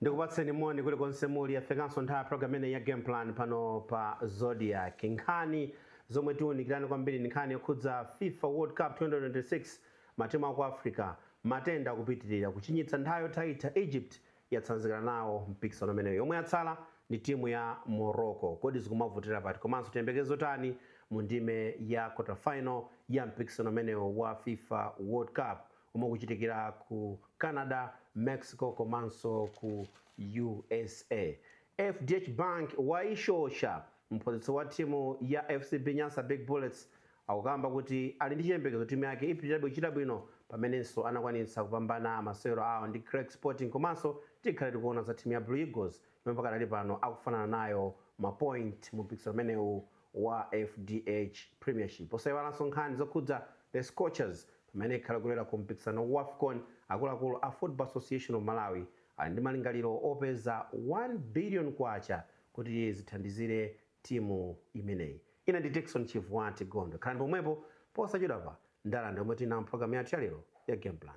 ndikupatseni moni kulikonse muli yafikanso nthawi ya programu imeneyi ya game plan pano pa zodiak nkhani zomwe tiunikirane kwambiri ndi nkhani yokhudza fifa world cup 2026 matimu aku africa matenda akupitirira kuchinyitsa nthawi yothaitha egypt yatsanzikana nawo mpikisano umenewu yomwe yatsala ndi timu ya morocco kodi zikumavutira pati komanso tiyembekeze zotani mu ndime ya quarter final ya mpikisano umenewu wa fifa world cup omwe ukuchitikira ku Canada, Mexico komanso ku usa. FDH Bank waishosha mphunzitsi wa timu ya FCB Nyasa Big Bullets akukamba kuti ali ndi chiyembekezo timu yake ipitirilabe kuchita bwino pamenenso anakwanitsa kupambana masewero awo ndi Creck Sporting komanso tikhale tikuona za timu ya Blue Eagles yomwe pakadali pano akufanana nayo ma point mu mpikisano umenewu wa FDH Premiership. Osaiwalanso nkhani zokhudza The Scorchers Pamene ikhala ikulowera ku mpikisano wa Wafcon, akuluakulu a Football Association of Malawi ali ndi malingaliro opeza K1 billion kuti zithandizire timu imeneyi. Ine ndi Dickson Chivuwati Gondwe. Khalani pomwepo, posachedwapa ndalandira omwe tili nawo mpulogalamu yathu ya lero ya Game Plan.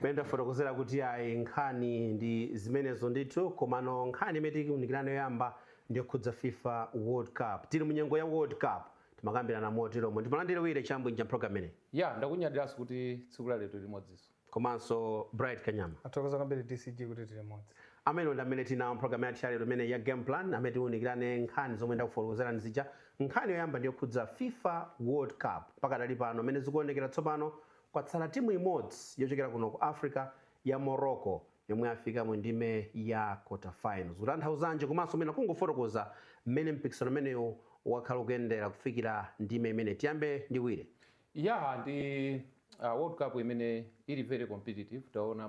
mmene ndafotokozera kuti ayi nkhani ndi zimenezo ndithu komano nkhani imene tiunikirane yoyamba ndiyokhudza fifa world cup tili mu nyengo ya world cup timakambirana moteromo ndimulandire willy chabwinja mpulogalamu imeneyi ya ndakunyadiranso kuti tsiku la lero tili limodzinso komanso bright kanyama tathokoza kwambiri dcg kuti tili limodzi amenewa ndi amene tinawo mpulogalamu yathu yalero imeneyi ya game plan amene tiunikirane nkhani zomwe ndakufotokozerani zija Nkhani yoyamba ndi yokhudza fifa World Cup. Pakadali pano mmene zikuonekera tsopano, kwatsala timu imodzi yochokera kuno ku Africa ya Morocco yomwe yafika mu ndime ya Quarterfinal. Zikutanthauzanji komanso mwina kungofotokoza mmene mpikisano umenewu wakhala ukuyendera kufikira ndime imeneyi. Tiyambe ndi Willy. Yaa ndi World Cup imene ili very competitive. Taona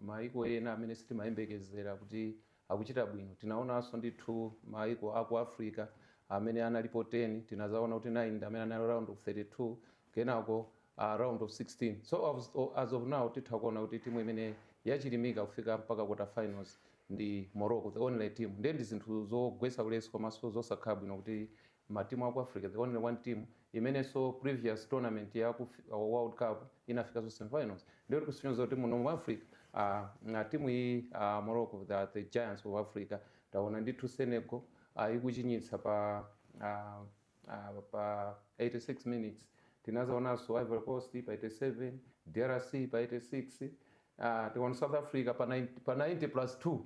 mayiko ena amene sitimayembekezera kuti akuchita bwino. Tinaonanso ndithu mayiko a ku Africa amene analipo 10, tinadzaona kuti 9 ndi amene analowa round of 32, kenako a round of 16. So as, as of now titha kuona kuti timu imene yachilimika kufika mpaka quarter finals ndi Morocco, the only team. Ndiye ndi zinthu zogwetsa ulesi komanso zosakhala bwino kuti ma team aku Africa the only one team imenenso previous tournament yaku fifa world cup inafikanso semifinals ndiye zikusonyeza kuti muno mu Africa uh, team iyi uh, Morocco the, the giants of Africa taona ndithu Senegal uh, ikuchinyitsa pa uh, uh, pa 86 minutes tinazaonanso Ivory Coast pa 87 DRC pa 86 uh, tiona South Africa pa 90, pa 90 plus 2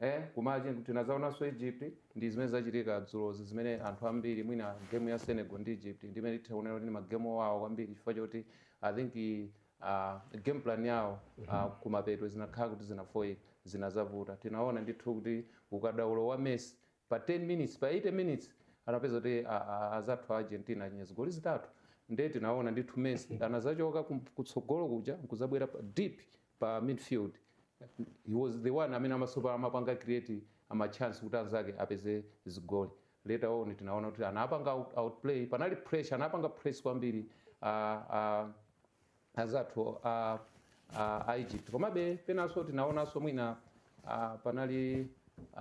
Eee koma tinazaonanso Egypt ndi zimene zachitika dzulozi zimene anthu ambiri mwina game ya Senegal ndi Egypt ndi imene titha kunena kuti ndi ma game owawa kwambiri chifukwa choti I think aah game plan yawo aah kumapeto zinakhala kuti zinafoira zinazavuta tinaona ndithu kuti ukadaulo wa Messi pa 10 minutes pa 80 minutes anapezeka kuti aah azathu a Argentina achinya zigoli zitatu nde tinaona ndithu Messi anazachoka kutsogolo kuja nkuzabwera pa deep pa midfield he was the one amene amasapulaya amapanga create ama chance kuti anzake apeze zigoli later on tinaona kuti anapanga out- outplay panali pressure anapanga press kwambiri ah, ah, anzathu a a- a egypt komabe penanso tinaonanso mwina ah, panali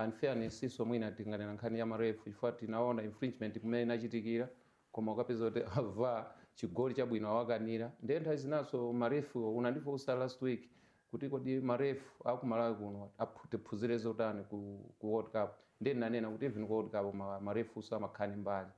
unfairnessnso mwina tinganena nkhani ya marefu chifukwa tinaona infringement kumene inachitikira koma ukapeza kuti awa chigoli chabwino awakanira ndiye nthawi zinanso ma ref wo unandifunsa last week kuti kodi ma ref aku Malawi kuno aphu- tiphunzire zotani ku, ku World Cup ndiye ndinanena kuti even ku World Cup ma, ma refnso amakhala ndi mbali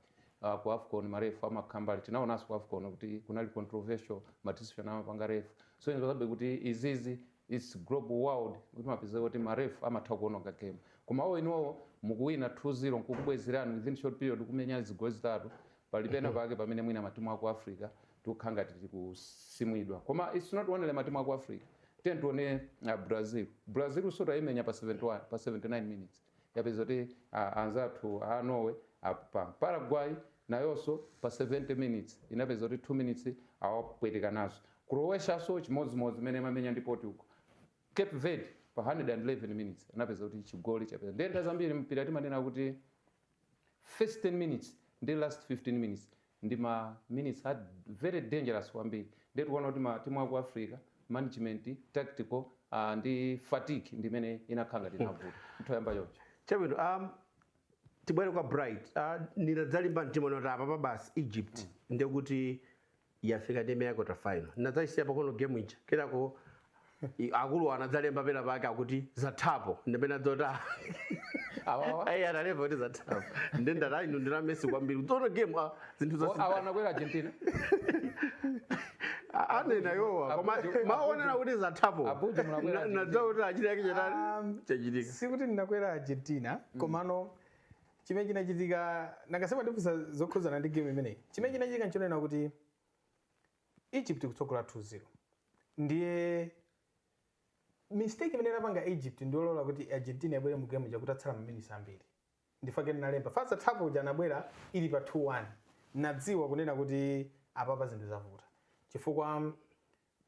uh, ku AFCON ma ref amakhala mbali tinaonanso ku AFCON kuti kunali controversial ma decision amapanga ref so ingodziwabe kuti izizi its global world timapezeka kuti ma ref amatha kuononga game koma awo eniwowo mukuwina 2-0 nkukubwezerani within short period kumenyani zigoli zitatu pali pena pake pamene mwina matimu aku africa tikukhala ngati tikusimwidwa koma its not only matimu aku africa tiye tione uh, brazil brazilnso atayimenya pa 71 pa 79 minutes yapezeka kuti a anzathu a Norway ap pa. Paraguay nayonso pa 70 minutes inapezeka kuti 2 minutes awapweteka nazo. Croatianso chimodzimodzi mmene imamenya ndi Portugal. Cape Verde pa 111 minutes anapezeka kuti chigoli chapezeka. Ndiye nthawi zambiri mpira timanena kuti first 10 minutes ndi last 15 minutes ndi ma minutes a very dangerous kwambiri ndiye tikuona kuti ma timu aku Africa management tactical uh, ndi fatigue ndi imene inakhala ngati inavuta mtundu wa choncho chabwino um, tibwere kwa bright uh, ndinadzalimba mtima nkuti apapa basi egypt mm. ndekuti yafika ndime ya kota final ndinadzayisiya pang'ono game ija kenako I- akulu anadzalemba pena pake akuti zathapo ndipena dzota Awawa. ayi analemba kuti zathapo ndi ndata inu ndinayamba kuona game ah, zinthu Oh, awa zosiyana anakwera argentina anena yowa koma Abuja- maonera kuti zathapo Abuja munakwera Na- Argentina. nadzawo kuti achita yake chatani Um, chachitika sikuti ndinakwera argentina komano chimene chinachitika nanga si mwa ndifunsa zokhudzana ndi game imeneyi chimene chinachitika nchonena kuti Egypt ikutsogola 2 0 ndiye mistake imene inapanga Egypt ndiyolola kuti Argentina ibwere mu game ija kutatsala ma minutes ambiri ndi chifukwa chake ndinalemba za zathapo uja anabwera ili pa 2-1 nadziwa kunena kuti apapa zinthu zavuta chifukwa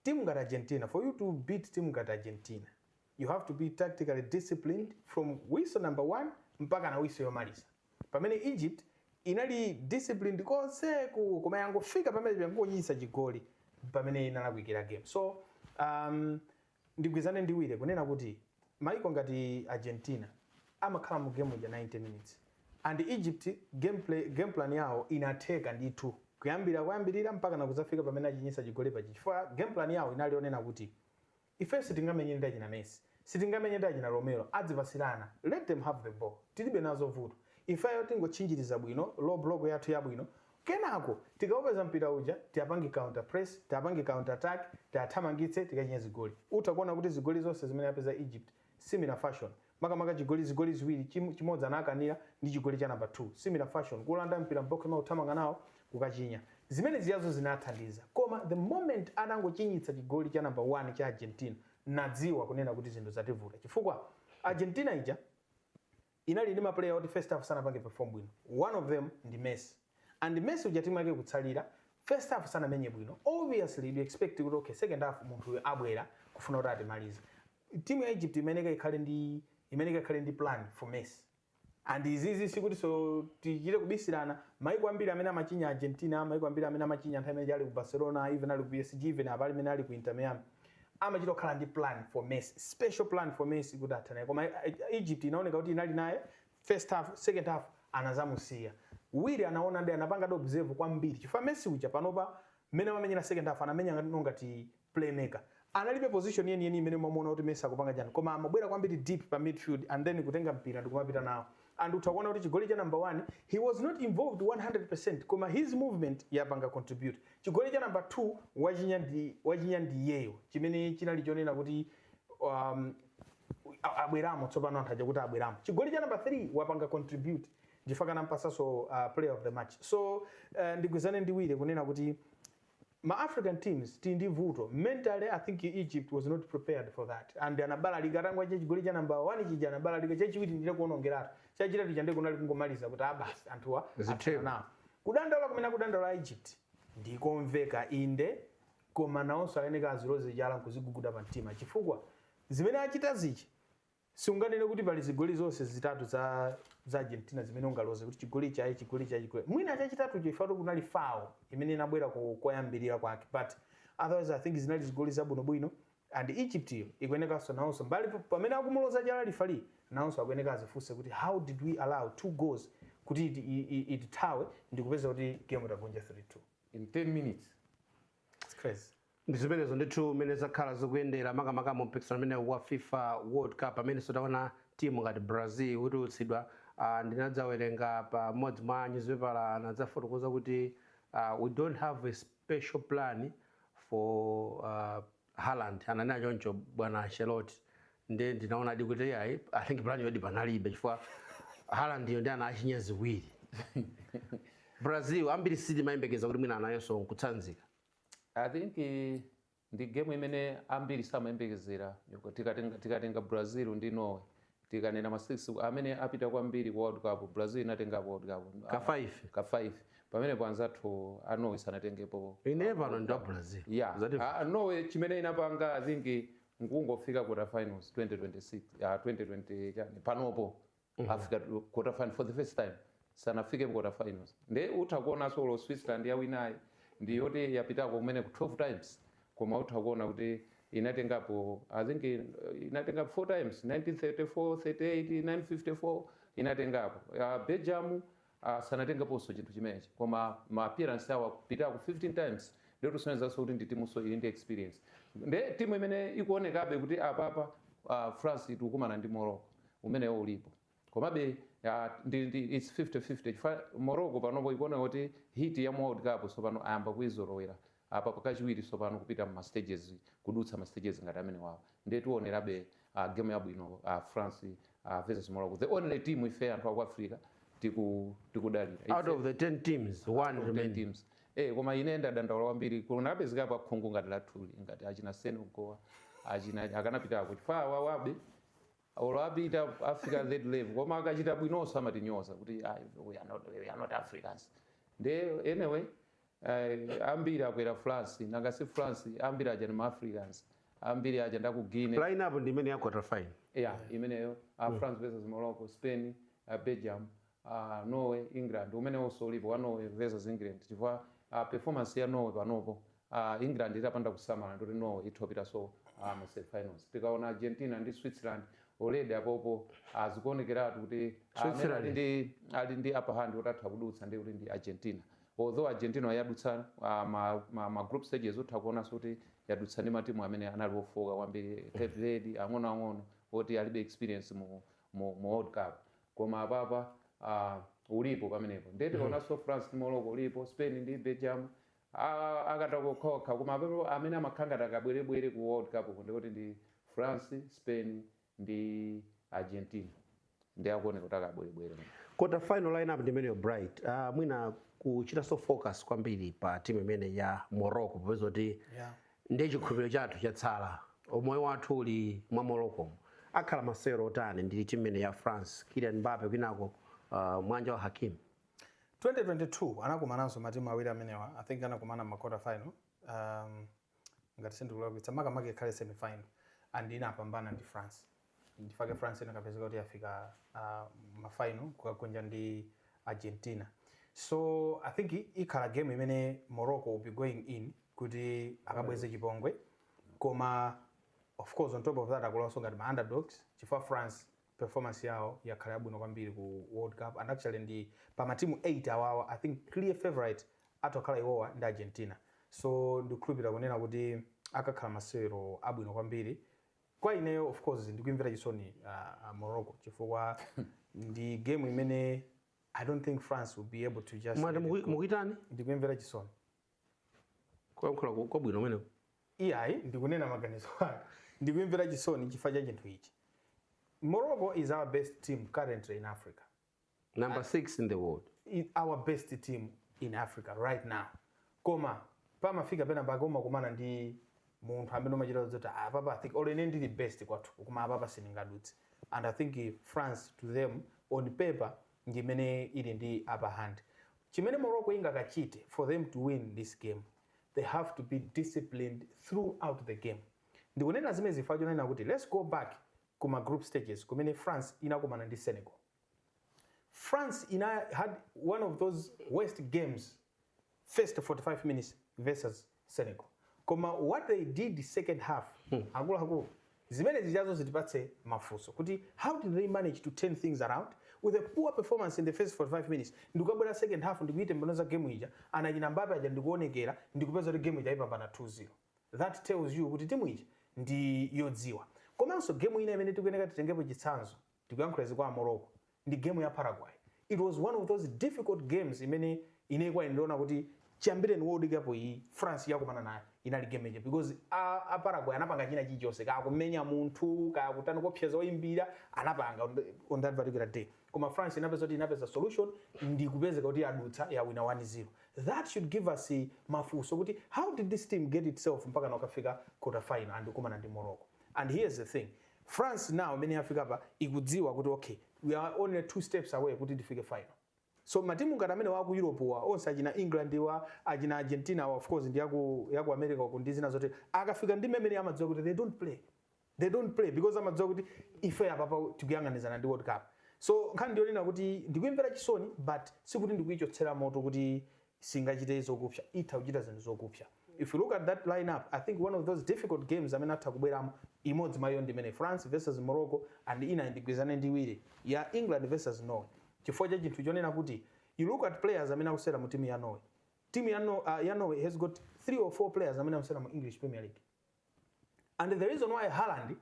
timu ngati Argentina for you to beat timu ngati Argentina You have to be tactically disciplined from whistle number 1 mpakana whistle yomaliza. Pamene Egypt inali disciplined konseku koma yangofika pamene yangochinyitsa chigoli pamene inalakwikira game. So um, ndigwizane ndi Wile kunena kuti maiko ngati Argentina amakhala mu game ya 90 minutes and Egypt game, play, game plan yawo inatheka ndithu kuyambira kuyambirira mpakana kudzafika pamene achinyitsa chigoli pa chifukwa game plan yawo inali yonena kuti Ifeyo sitingamenye ndi achina Messi, sitingamenye ndi achina Romero, azipatsirana, let them have the ball, tilibe nazo vuto. Ifeyo tingotchinjiriza bwino, low block yathu yabwino, kenako tikaupeza mpira uja, tiapange counter press, tiapange counter attack, tiathamangitse, tikachinye zigoli. Utha kuona kuti zigoli zonse zimene yapeza Egypt, Similar fashion, makamaka chigoli zigoli ziwiri chim, chimodzi anakanira ndi chigoli cha number 2. Similar fashion, kuulanda mpira m'box mwao kuthamanga nawo kukachinya. Zimene zijazo zinathandiza. Koma the moment atangochinyitsa chigoli cha number 1 cha Argentina, nadziwa kunena kuti zinthu zativuta. Chifukwa Argentina ija. inali ndi ma player oti first half sanapange perform bwino one of them ndi Messi and Messi uja team yake ikutsalira first half sanamenye bwino obviously you expect kuti okay second half munthu uyu abwera kufuna kuti atimalize team ya Egypt imayeneka ikhale ndi imayeneka ikhale ndi plan for Messi and izizi sikuti zoti tichite kubisirana maiko ambiri amene amachinya Argentina maiko ambiri amene amachinya nthawi imene ali ku Barcelona even ali ku PSG even apa pamene ali ku Inter Miami amachita kukhala ndi plan for messi special plan for messi kuti athane naye koma egypt inaoneka kuti inali naye first half second half anazamusiya Wile anaona ndi anapangadi observe kwambiri chifukwa messi uja panopa mmene amamenyera second half anamenya ngati no ngati playmaker analibe position yeniyeni imene umamuona kuti messi akupanga chani koma amabwera kwambiri deep pa midfield and then kutenga mpira ndikumapita nawo and utha kuona kuti chigoli cha number 1 he was not involved 100% koma his movement yapanga contribute chigoli cha number 2 wachinya ndi wachinya ndi iyeyo chimene chinali chonena kuti um, a- abweramo tsopano anthu aja kuti abweramo chigoli cha number 3 wapanga contribute chifukwa anampatsanso uh, player of the match so uh, ndigwizane ndi Wile kunena kuti Ma African teams tili ndi vuto, mentally I think Egypt was not prepared for that and anabalalika atangomwa cha chigoli cha number 1 chija anabalalika, chachiwiri ndiye kuonongeratu, chachitatu chija ndiye kunali kungomaliza kuti a basi anthuwa athana Zitheka. nawo. Kudandaula kumene akudandaula a Egypt ndikomveka inde koma nawonso ayeneka aziloze chala nkuziguguda pa mtima chifukwa zimene achita zija Siunganene kuti pali zigoli zonse zitatu za za Argentina zimene ungaloze kuti chigoli ichi ayi chigoli ichi ayi chigoli. Mwina chachitatucho if at all kunali foul imene inabwera ko, koyambirira kwake but otherwise I think zinali zigoli zabwinobwino and Egypt yo ikuyenekanso nawonso mbali pa- pamene akumuloza chala referee nawonso akuyeneka azifunse kuti how did we allow two goals kuti iti- i- i- itithawe ndikupeza kuti game tagonja 3-2. in 10 minutes It's crazy. ndi zimenezo ndithu mmene zakhala zikuyendera makamaka mu mpikisano umenewu wa fifa world cup pamenenso taona timu ngati brazil ikutulutsidwa uh, ndinadzawerenga pa mmodzi mwa nyuzipepala anadzafotokoza kuti uh, we don't have a special plan for uh, Haaland ananena choncho bwana Ancelotti nde ndinaonadi kuti iyayi i think plan yodi panalibe chifukwa Haaland yo ndi anachinya ziwiri brazil ambiri sitimayembekeza kuti mwina anayonso nkutsanzika i think eh, ndi game imene ambiri samayembekezera Yoko- tikatenga tikatenga brazil ndi norway tikanena matimu amene apita kwambiri ku world cup brazil inatenga world cup ka 5 ka 5 pamene panzathu a norway sanatengepo ine pano ndi wa brazil yeah. Zati- Ah, norway chimene inapanga i think nkungofika quarter finals 2026 ah 2020 chani panopo afika tu- quarter final for the first time sanafike mu quarter finals nde utha kuonanso olo switzerland yawinayi ndi yoti yapitako kumene ku 12 times koma utha kuona kuti inatengapo i think eh, inatengapo 4 times 1934 38 54 inatengapo uh, belgium a sanatengeponso chinthu chimenechi koma ma appearance awo apitako 15 times ndiye kusonyezanso kuti ndi timunso ili ndi experience nde timu imene ikuonekabe kuti apapa uh, france ikukumana ndi morocco umenewo ulipo komabe ah, ndi, ndi, it's 50-50 chifukwa morocco panopo ikuoneka kuti heat ya mu world cup tsopano ayamba kuizolowera Apa pakachiwiri tsopano kupita mu ma stages kudutsa ma stages ngati amenewawa ndiye tionerabe game yabwino France versus Morocco the only team ife anthu aku Africa tiku tikudalira out ife of the 10 teams out one of 10 remaining teams eh koma ine ndadandaula kwambiri kunapezekapo a khungu ngati lathuli ngati achina Senegal achina akanapitako chifukwa awawabe olo apita afika third level koma akachita bwinonso amatinyoza kuti "Ah, we are not, we are not africans nde anyway Eh, ambiri akwera France nanga si France ambiri aja ndi ma Africans ambiri aja ndaku Guinea line up ndi imene ya quarter final yeah imeneyo uh, France versus Morocco Spain uh, Belgium uh, Norway England umene uliso ulipo wa Norway versus England chifukwa uh, performance ya Norway panopo uh, England itapanda kusamala ndi yoti Norway itha kupitanso uh, mu semifinals tikaona Argentina ndi Switzerland already apopo azikuonekeratu kuti uh, amene Switzerland. ali ndi ali ndi upper hand kuti atha kudutsa ndi kuti ndi Argentina Although Argentina yadutsa ma ma ma group stages utha kuonanso kuti yadutsa ndi matimu amene anali ofooka kwambiri Cape Verde ang'ono ang'ono oti alibe experience mu mu mu World Cup koma apapa uh, ulipo pamenepo ndiye tikaonanso France ndi Morocco ulipo Spain ndi Belgium Ah, akatako kokha koma amene amakhala ngati akabwerebwere ku world cup ku ndikuti ndi france spain ndi Argentina ndiye akuoneka kuti akabwerebwere mu Quarter final lineup ndi imeneyo Bright. Uh, mwina kuchitanso focus kwambiri pa timu imene ya Morocco popeza kuti Yeah. ndiye chikhulupiriro chathu chatsala. Umoyo wathu uli mwa Morocco. Akhala masewero otani ndi timu imene ya France, Kylian Mbappe kwinako uh, mwanja wa Hakimi. 2022 anakumananso matimu awiri amenewa i think anakumana ma quarter final um, ngati sindikulakwitsa makamaka ikhale semifinal and inapambana ndi france nchifukwa chake france inakapezeka kuti yafika uh, mafinal kukagonja ndi argentina so i think i- ikhala game imene morocco will be going in kuti akabweze chipongwe koma of course on top of that akulowanso ngati ma underdogs chifukwa france Performance yawo yakhala yabwino kwambiri ku world cup and actually ndi pa ma team 8 awawa I think clear favourite athu akhala iwowa ndi Argentina so ndikukhulupilira kunena kuti akakhala masewero abwino kwambiri kwa ineyo of course ndikuyimvera chisoni uh, Morocco chifukwa ndi game imene I don't think France will be able to just mwati mukuyitani ndikuyimvera chisoni kuyankhula kwa- kwabwino kumene iyayi ndikunena maganizo ake ndikuyimvera chisoni chifukwa cha chinthu ichi morocco is our best team currently in africa number 6 in the world i- our best team in africa right now koma pamafika pena pake umakumana ndi munthu amene umadziwa zoti "Ah, apapa i think or ine ndili best kwathu koma apapa sindingadutse and i think eh, france to them on paper ndi imene ili ndi upper hand Chimene Morocco ingakachite for them to win this game they have to be disciplined throughout the game. Ndikunena zimenezi chifukwa chonena kuti let's go back ku ma group stages kumene France inakumana ndi Senegal. France inahad one of those worst games first 45 minutes versus Senegal koma what they did second half akuluakulu zimene zijazo zitipatse mafunso kuti how did they manage to turn things around with a poor performance in the first 45 minutes ndikukabwera second half ndikuitembenuza game ija anachina Mbappe aja ndikuonekera ndikupeza kuti game ija ayipambana 2-0 that tells you kuti timu ija ndi yodziwa komanso game ina imene tikuyeneka titengepo chitsanzo Ndikuyankhula izi kwa a Morocco ndi game ya Paraguay. It was one of those difficult games imene ine kwa ine ndaona kuti chiyambireni World Cup iyi France yakumana nayo inali game ija because a, a Paraguay anapanga china chilichonse kaya kumenya munthu kaya kutani kuopseza oyimbira anapanga on, the, on that particular day koma France inapezeka kuti inapeza solution ndi kupezeka kuti yadutsa yawina 1-0 that should give us eh, mafunso kuti how did this team get itself mpaka inakafika quarter final ndikukumana ndi Morocco and here's the thing France nawo mmene yafika apa ikudziwa kuti ok we are only two steps away kuti tifike final so matimu ngati amenewa aku Europe-wa onse achina England-wa achina Argentina-wa of course ndi yaku, yaku America uku ndi zina zotero akafika ndime imene amadziwa kuti they don't play they don't play because amadziwa kuti ife apapa tikuyang'anizana ndi World Cup so nkhani ndiyonena kuti ndikuimvera chisoni but sikuti ndikuichotsera moto kuti singachite zokupsa itha kuchita zinthu zokupsa if you look at that lineup i think one of those difficult games amene atha kubweramo imodzi mwa iyo ndimene france versus morocco and ina ndigwirizane ndi Chirwa ya england versus norway chifukwa cha chinthu chonena kuti you look at players amene akusewera mu timu ya norway timu ya, no, uh, ya norway has got three or four players amene akusewera mu english premier league and the reason why Haaland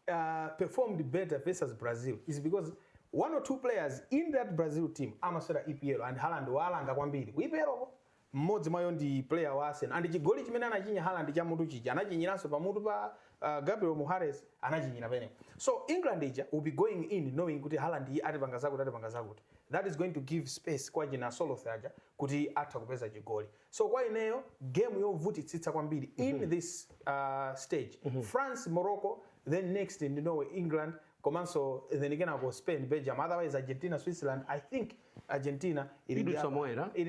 uh, performed better versus Brazil is because one or two players in that Brazil team amasewera EPL and Haaland walanga kwambiri ku EPL ko mmodzi mwa iwo ndi player wa Arsenal and chigoli chimene anachinya Haaland cha mutu chija anachinyiranso pa mutu pa uh, Gabriel Magalhaes anachinyira penepo so England ija will be going in knowing kuti Haaland-yu atipanga zakuti atipanga zakuti that is going to give space kwa achina Sorloth aja kuti atha kupeza chigoli So kwa ineyo game yovutitsitsa kwambiri in mhm. this uh, stage mm -hmm. France Morocco then next ndi Norway England komanso then kenako Spain Belgium otherwise Argentina Switzerland I think Argentina ili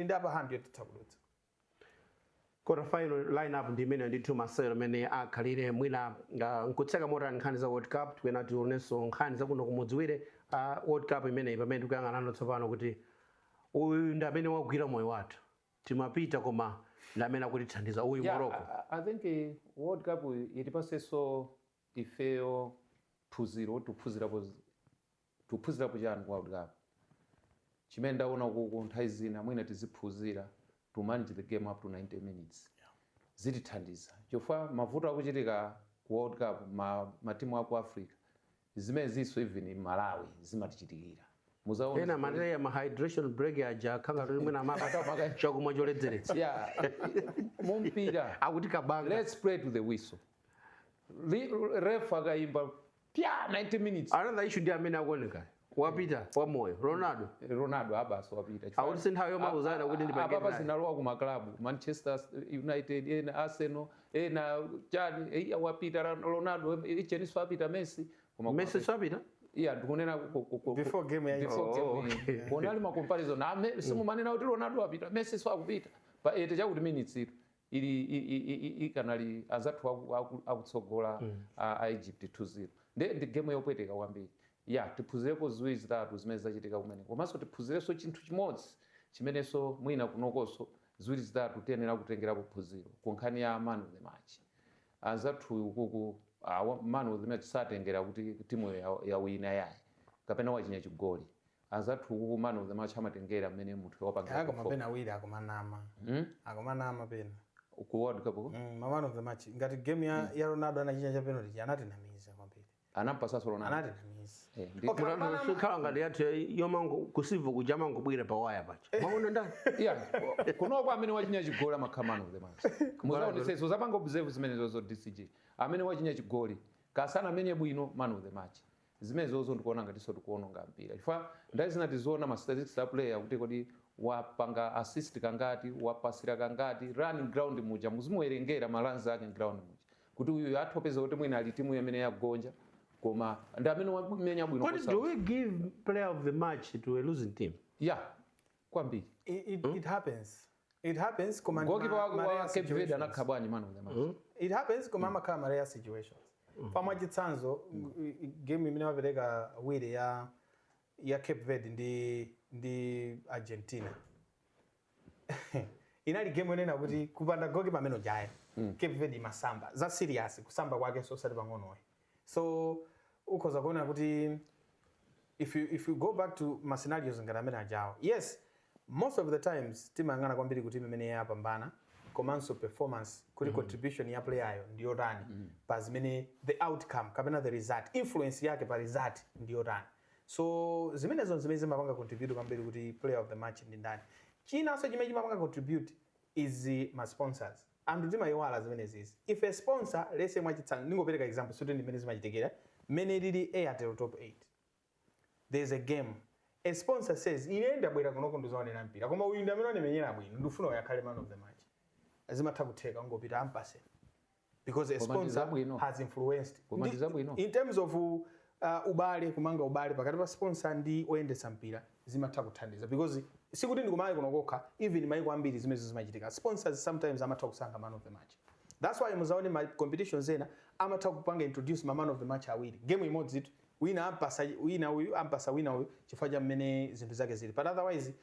ndi upper hand yotitha kudutsa quarter final lineup ndi imene ndithu masewero amene akhalire mwina uh, tikutseka motero nkhani za world cup tikuyenera tionenso nkhani zakuno kumudzi wire uh, world cup imeneyi pamene tikuyang'anano tsopano kuti uyu ndi amene wagwira moyo wathu timapita koma ndi amene akutithandiza uyu Yeah, Morocco. I, I- I think eh, World Cup itipatsenso ifeyo phunziro tikuphunzirapo z- tikuphunzirapo chani ku World Cup chimene ndaona kuku nthawi zina mwina tiziphunzira to manage the game up to 90 minutes zitithandiza chifukwa mavuto akuchitika ku World Cup ma, matimu aku Africa zimeneziso even m'Malawi zimatichitikira mudzaone ena zimene- amataya ma hydration break aja akhala ngati mwina amapatsa chakumwa choledzeretsa yeah mumpira akuti kabanga let's play to the whistle Li- ref akaimba pya 90 minutes another issue ndi amene akuoneka wapita wa moyo ronaldo ronaldo abasi wapita Chifukwa- Akuti si nthawi yomauzana kuti ndi apapa pangeni naye. zinalowa ku maklabu manchester united ena arsenal ena chani eya wapita Ronaldo icheni siwapita Messi koma Messi siwapita eya ndikunena before game ya before game oh, okay. kona ali ma comparison na me simumanena kuti Ronaldo wapita Messi siwakupita pa eighty chakuti minutes tu ili ikanali azathu akutsogola mm. a Egypt 2-0 nde ndi game yopweteka kwambiri yeah tiphunzirepo ziwiri zitatu zimene zachitika kumene komanso tiphunzirenso chinthu chimodzi chimenenso mwina kunokonso Ziwiri zitatu tiyenera kutengerapo phunziro ku nkhani ya man of the match. Anzathu ukuku man of the match satengera kuti timu ya- yawina yayi kapena wachinya chigoli. Anzathu ukuku man of the match amatengera mmene munthu wapangira perform. Kaya koma pena awiri akumanama. Hmm? Akumanama pena. Ku World Cup ku? Mm, ma man of the match. Ngati game ya, ya Ronaldo anachinya cha penalty anatinamiza kwambiri. anampatsanso Ronaldo anatinamiza Eh, ndi- Okay, Mutantha apana- sikhala ngati yathu yayi, yomango kusivu kuja mangobwira pa waya paja maona ndani yeah kunoko amene wachinya chigoli amakhala man of the match muzaonetsetse zapanga observe zimenezozo DCG amene wachinya chigoli kaya sanamenye bwino man of the match zimenezozo ndikuona ngati zotikuononga mpira chifukwa nthawi zina tiziona ma statistics a player kuti kodi wapanga assist kangati wapasira kangati running ground muja muzimuwerengera ma runs ake ground muja kuti uyu athu opeza kuti mwina ali timu yamene yagonja koma ndi amene wamenya bwino kodi do we give player of the match to a losing team yeah kwambiri it, it, hmm? it happens it happens koma goalkeeper wa, wa Cape Verde anakhala bwanji man of the match hmm? it happens koma hmm. amakhala ma rare situations mm -hmm. mwachitsanzo mm -hmm. game imene wapereka Wire ya ya Cape Verde ndi ndi Argentina inali game yonena kuti kupanda goalkeeper amene ujayo mm. Cape Verde imasamba za serious kusamba kwake so sali pang'onoyi so ukhoza kuona kuti if you, if you go back to ma scenarios ngati amene ajawo yes most of the times timayang'ana kwambiri kuti timu imene yapambana komanso performance kuti mm. contribution ya playeryo ndi yotani mm. pa zimene the outcome kapena the result influence yake pa result ndi yotani So zimenezo n'zimene zimapanga contribute kwambiri kuti player of the match ndi ndani. Chinanso chimene chimapanga contribute is ma sponsors. Anthu timaiwala zimenezizi. If a sponsor, let's say mwachitsanzo, ndingopereka example sikuti ndi mmene zimachitikira, mmene ilili Airtel Top 8. There is a game. A sponsor says, ine ndabwera kunoko ndizaonera mpira, koma uyu ndi amene wandimenyera bwino, ndikufuna uyu akhale man of the match. Zimatha kutheka, kungopita ampatse. because a Koma ndi sponsor zabwino. has influenced Koma ndi zabwino. in terms of uh, ubale kumanga ubale pakati pa sponsor ndi oyendetsa mpira zimatha kuthandiza because sikuti ndi kumalawi kuno kokha even maiko ambiri zimenezo zimachitika sponsors sometimes amatha kusankha man of the match that's why muzaone ma competitions ena amatha kupanga introduce ma man of the match awiri game imodzi iii wina ampatsa wina uyu ampatsa wina uyu chifukwa cha mmene zinthu zake zili but otherwise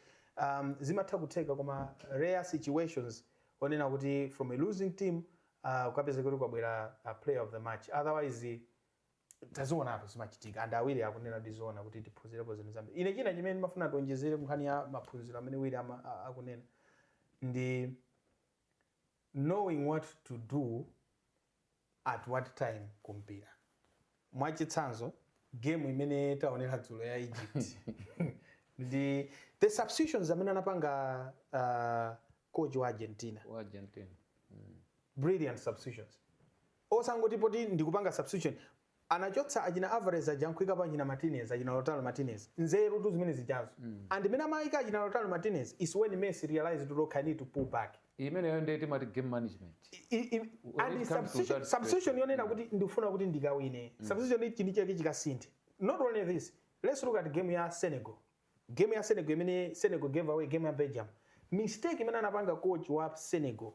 um, zimatha kutheka koma rare situations onena kuti from a losing team kukapezeka kuti kwabwera player of the match otherwise tazionatu zimachitika and a Wire akunena kuti zoona kuti tiphunzirepo zinthu zambiri ine china chimene ndimafuna tionjezere kunkhani ya maphunziro amene Wire ama- a- akunena ndi knowing what to do at what time kumpira? mwachitsanzo game imene taonera dzulo ya Egypt ndi the substitutions amene anapanga uh, coach wa Argentina, wa Argentina. Mm. brilliant substitution osangoti poti ndikupanga substitution Anachotsa achina Alvarez aja n'kuikapo achina Martinez, achina Lautaro Martinez. Nzerutu zimene zijazo. And mene amaika achina Lautaro Martinez is when Messi realized kuti okay I need to pull back. Imeneyo ndiye timati game management. I, i, When and it comes to substitution, that substitution question, yonena mm. kuti ndifuna kuti ndikawine. Mm. Substitution ichi ndi chake chikasinthe. Not only this, let's look at game ya Senegal. Game ya Senegal imene Senegal gave away game ya Belgium. Mistake imene anapanga coach wa Senegal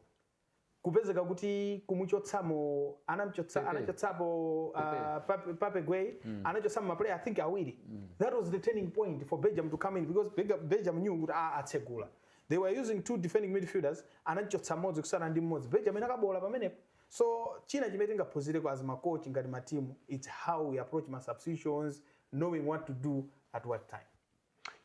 kupezeka kuti kumuchotsamo anamchotsa Pepe. anachotsapo uh, Pepe. Pape, Pape Gueye anachotsamo maplayer I think awiri that was the turning point for Belgium to come in because Belga- Belgium knew kuti ah, atsegula they were using two defending midfielders anachotsa mmodzi kutsala ndi mmodzi Belgium inakaboola pamenepo so china chimene tingaphunzireko as makochi ngati matimu it's how we approach ma substitutions knowing what to do at what time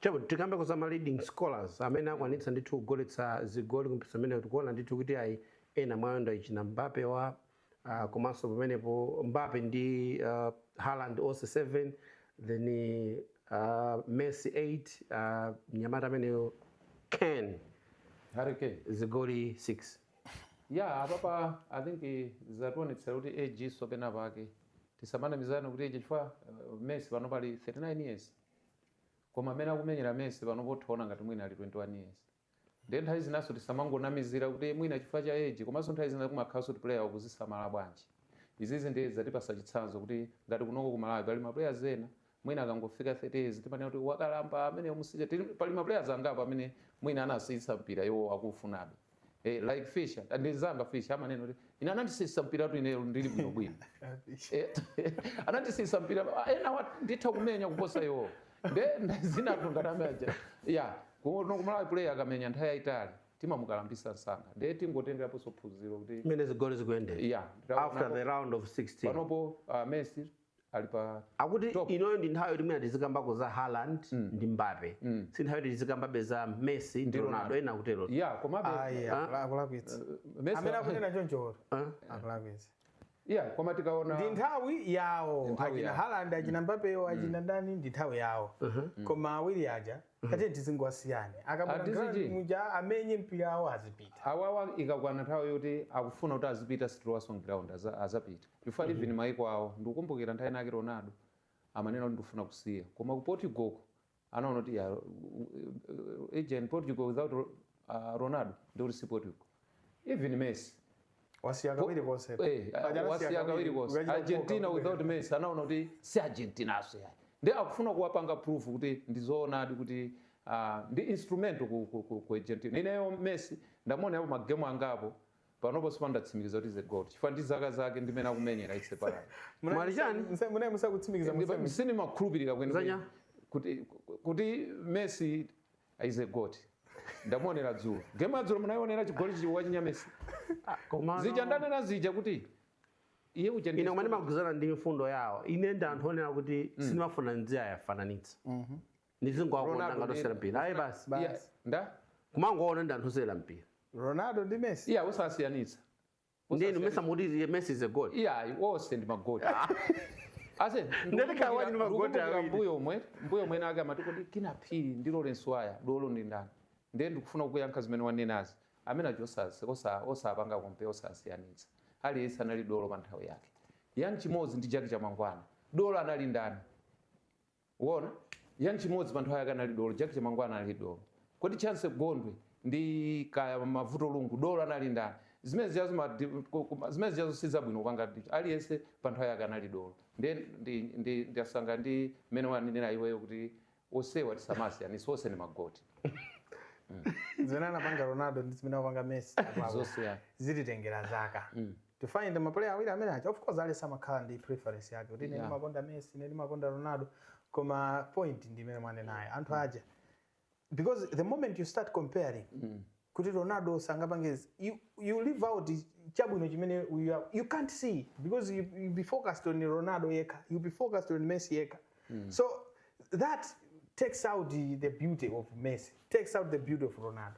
Chabwino, tikambeko za ma leading scorers amene akwanitsa ndithu kugoletsa zigoli ku mpikisano umenewu. Tikuona ndithu kuti ayi ena mwa iwo ndi achina Mbappe wa ah, komanso pamenepo Mbappe ndi ah, Haaland onse 7 then ah, Messi 8 ah, mnyamata ameneyo Kane Harry Kane. zigoli 6 ya apapa i think eh, zationetsera kuti age so pena pake tisamanamizane kuti age chifukwa uh, Messi panopa ali 39 years koma mmene akumenyera Messi panopo utha kuona ngati mwina ali 21 years ndiye nthawi zinaso tisamangonamizira kuti mwina chifukwa cha age komanso nthawi zina kumakhalanso kuti player akuzisamala bwanji izizi ndiye zatipasa chitsanzo kuti ngati kunoko ku Malawi pali ma players ena mwina akangofika 30 years timanena kuti wakalamba ameneyo musiye pali ma players angapo amene mwina anasiyitsidwa mpira iwo akuufunabe Eh, like Fisher, ndi nzanga Fisher amanena kuti ine anandisiyitsa mpiratu ineyo ndili bwino bwino. Eh, anandisiyitsa mpira ah, ena wa- nditha kumenya kuposa iwo. Nde zinthu ngati zimeneja. Yeah, kuno ku Malawi player akamenya nthawi yaitali timamukalambitsa msanga. Nde tingotengeraponso phunziro kuti mmene zigoli zikuyendera yeah, after the round of 16 panopo uh, Messi ali pakuti Top. inoyo ndi nthawi yoti mwina tizikambako za Haaland ndi Mbappe si nthawi yoti tizikambabe za Messi ndi Ronaldo. Ronaldo ena akutero ya komabe ayi akula- akulakwitsa Messi- amene akunena chonchoro akulakwitsa ya koma tikaona ndi nthawi yawo nthawi achina yawo. Haaland achina Mbappewo achina ndani ndi nthawi yawo koma awiri aja kati tizingowasiya akabwera Atizi ground chi? muja amenye mpira awa azipita awawa ikakwana nthawi yoti akufuna kuti azipita sitilowaso mu ground aza- azapita chifukwa even maiko awo ndikukumbukira nthawi inake ronaldo amanena kuti ndikufuna kusiya koma ku portugal ko anaona kuti ya, uh, uh, imagine portugal without Ah, ronaldo ndikuti si portugal even messi wasiya kawiri konse Eh, Paja anasiya wasiya kawiri konse ukachita argentina kukoka without messi anaona kuti si argentina so yani ndi akufuna kuwapanga proof kuti ndizoonadi kuti ah, ndi instrument ku, ku, ku, ku argentina ineyo messi ndamuona yapo magemu angapo panopo sindinatsimikize kuti is a GOAT chifukwa ndi zaka zake ndi mmene akumenyera itse pala Mwali chani? munayi musakutsimikiza musemi sinimakhulupirira Zanya? kwenikweni kuti kuti messi is a GOAT ndamuonera dzulo game ya dzulo munaionera chigoli chi- wa chinyamesi Ah, komano- zija ndanena zija kuti iye uja ndi- ine koma ndimagwirizana ndi mfundo yawo ine ndi anthu onena kuti sindimafuna ndiziwafananitsa ndizingowakonda Ronaldo ngati ndi- osewera mpira ayi basi Ba- Iya, nda kumangoona ndi anthu osewera mpira ronaldo ndi messi iya usasiyanitsa ndinu mesa muti messi is a GOAT iya onse ndi magoti ase Ndalika awali ndi magoti awiri. mbuyomu mbuyomunso amati kodi Kinnah Phiri ndi lawrence waya dolo ndi ndani ndiye ndikufuna kuyankha zimene wanenazi amene acho osasi- osa- osapanga kompe osasiyanitsa aliyense anali dolo pa nthawi yake Young Chimodzi ndi Jack Chamangwana dolo anali ndani Wona, Young Chimodzi pa nthawi yake anali dolo, Jack Chamangwana anali dolo. Kodi Chancy Gondwe ndi kaya Mavuto Lungu dolo anali ndani? Zimene zijazo ma di- ku- ku- ma- zimene zijazo si zabwino kupanga ndi- aliyense pa nthawi yake anali dolo. Ndi ndi ndi ndasanga ndi mmene wanenera iweyo kuti onsewa tisamasiyanitse onse ndi magoti. zimene anapanga ronaldo ndi zimene anapanga messi Zonse ya. zititengera zaka to find ma player awiri amene aja of course aliyense amakhala ndi preference yake kuti ine Yeah. ndimakonda messi ine ndimakonda ronaldo koma point ndi imene mwanenayo anthu aja because the moment you start comparing kuti ronaldo sangapange izi, you, you leave out chabwino chimene you, are, you can't see because you, you be focused on ronaldo yekha you be focused on messi yekha so that takes out the, the beauty of messi takes out the beauty of ronaldo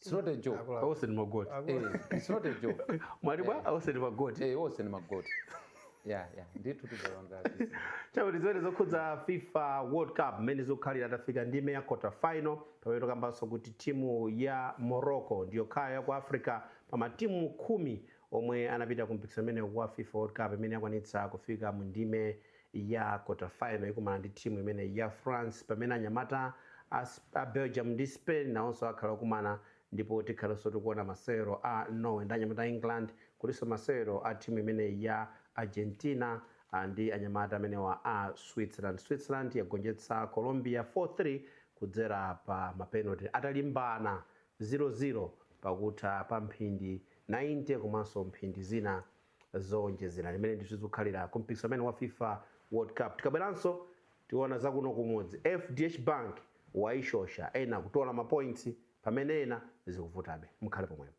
It's not a joke. Akula- Onse ndi magoti. Akula- Eh, it's not a joke. Mwali bwa onse ndi magoti. Eh, onse ndi magoti. Yeah, yeah. Ndithu tizalonga. Chakuti zimene zokhudza FIFA World Cup mmene zikukhalira tafika ndime ya quarter final pamene tikukambanso kuti timu ya Morocco ndi yokhayo ya ku Africa pa matimu khumi omwe anapita ku mpikisano umenewu wa FIFA World Cup imene yakwanitsa kufika mu ndime ya Quarter Final ikumana ndi team imeneyi ya France pamene anyamata a, a Belgium ndi Spain nawonso akhala okumana ndipo tikhalanso tikuona masewero a Norway ndi anyamata a England kulinso masewero a team imeneyi ya Argentina ah, ndi anyamata amenewa a Switzerland. Switzerland yagonjetsa Colombia 4-3 kudzera pa mapenalty atalimbana 0-0 pakutha pa mphindi 90 komanso mphindi zina zoonjezera zimene ndithu zikukhalira ku mpikisano umenewu wa fifa world cup tikabweranso tiona zakuno kumudzi fdh bank waishosha ena kutola mapoints pamene ena zikuvutabe mukhale pomwepo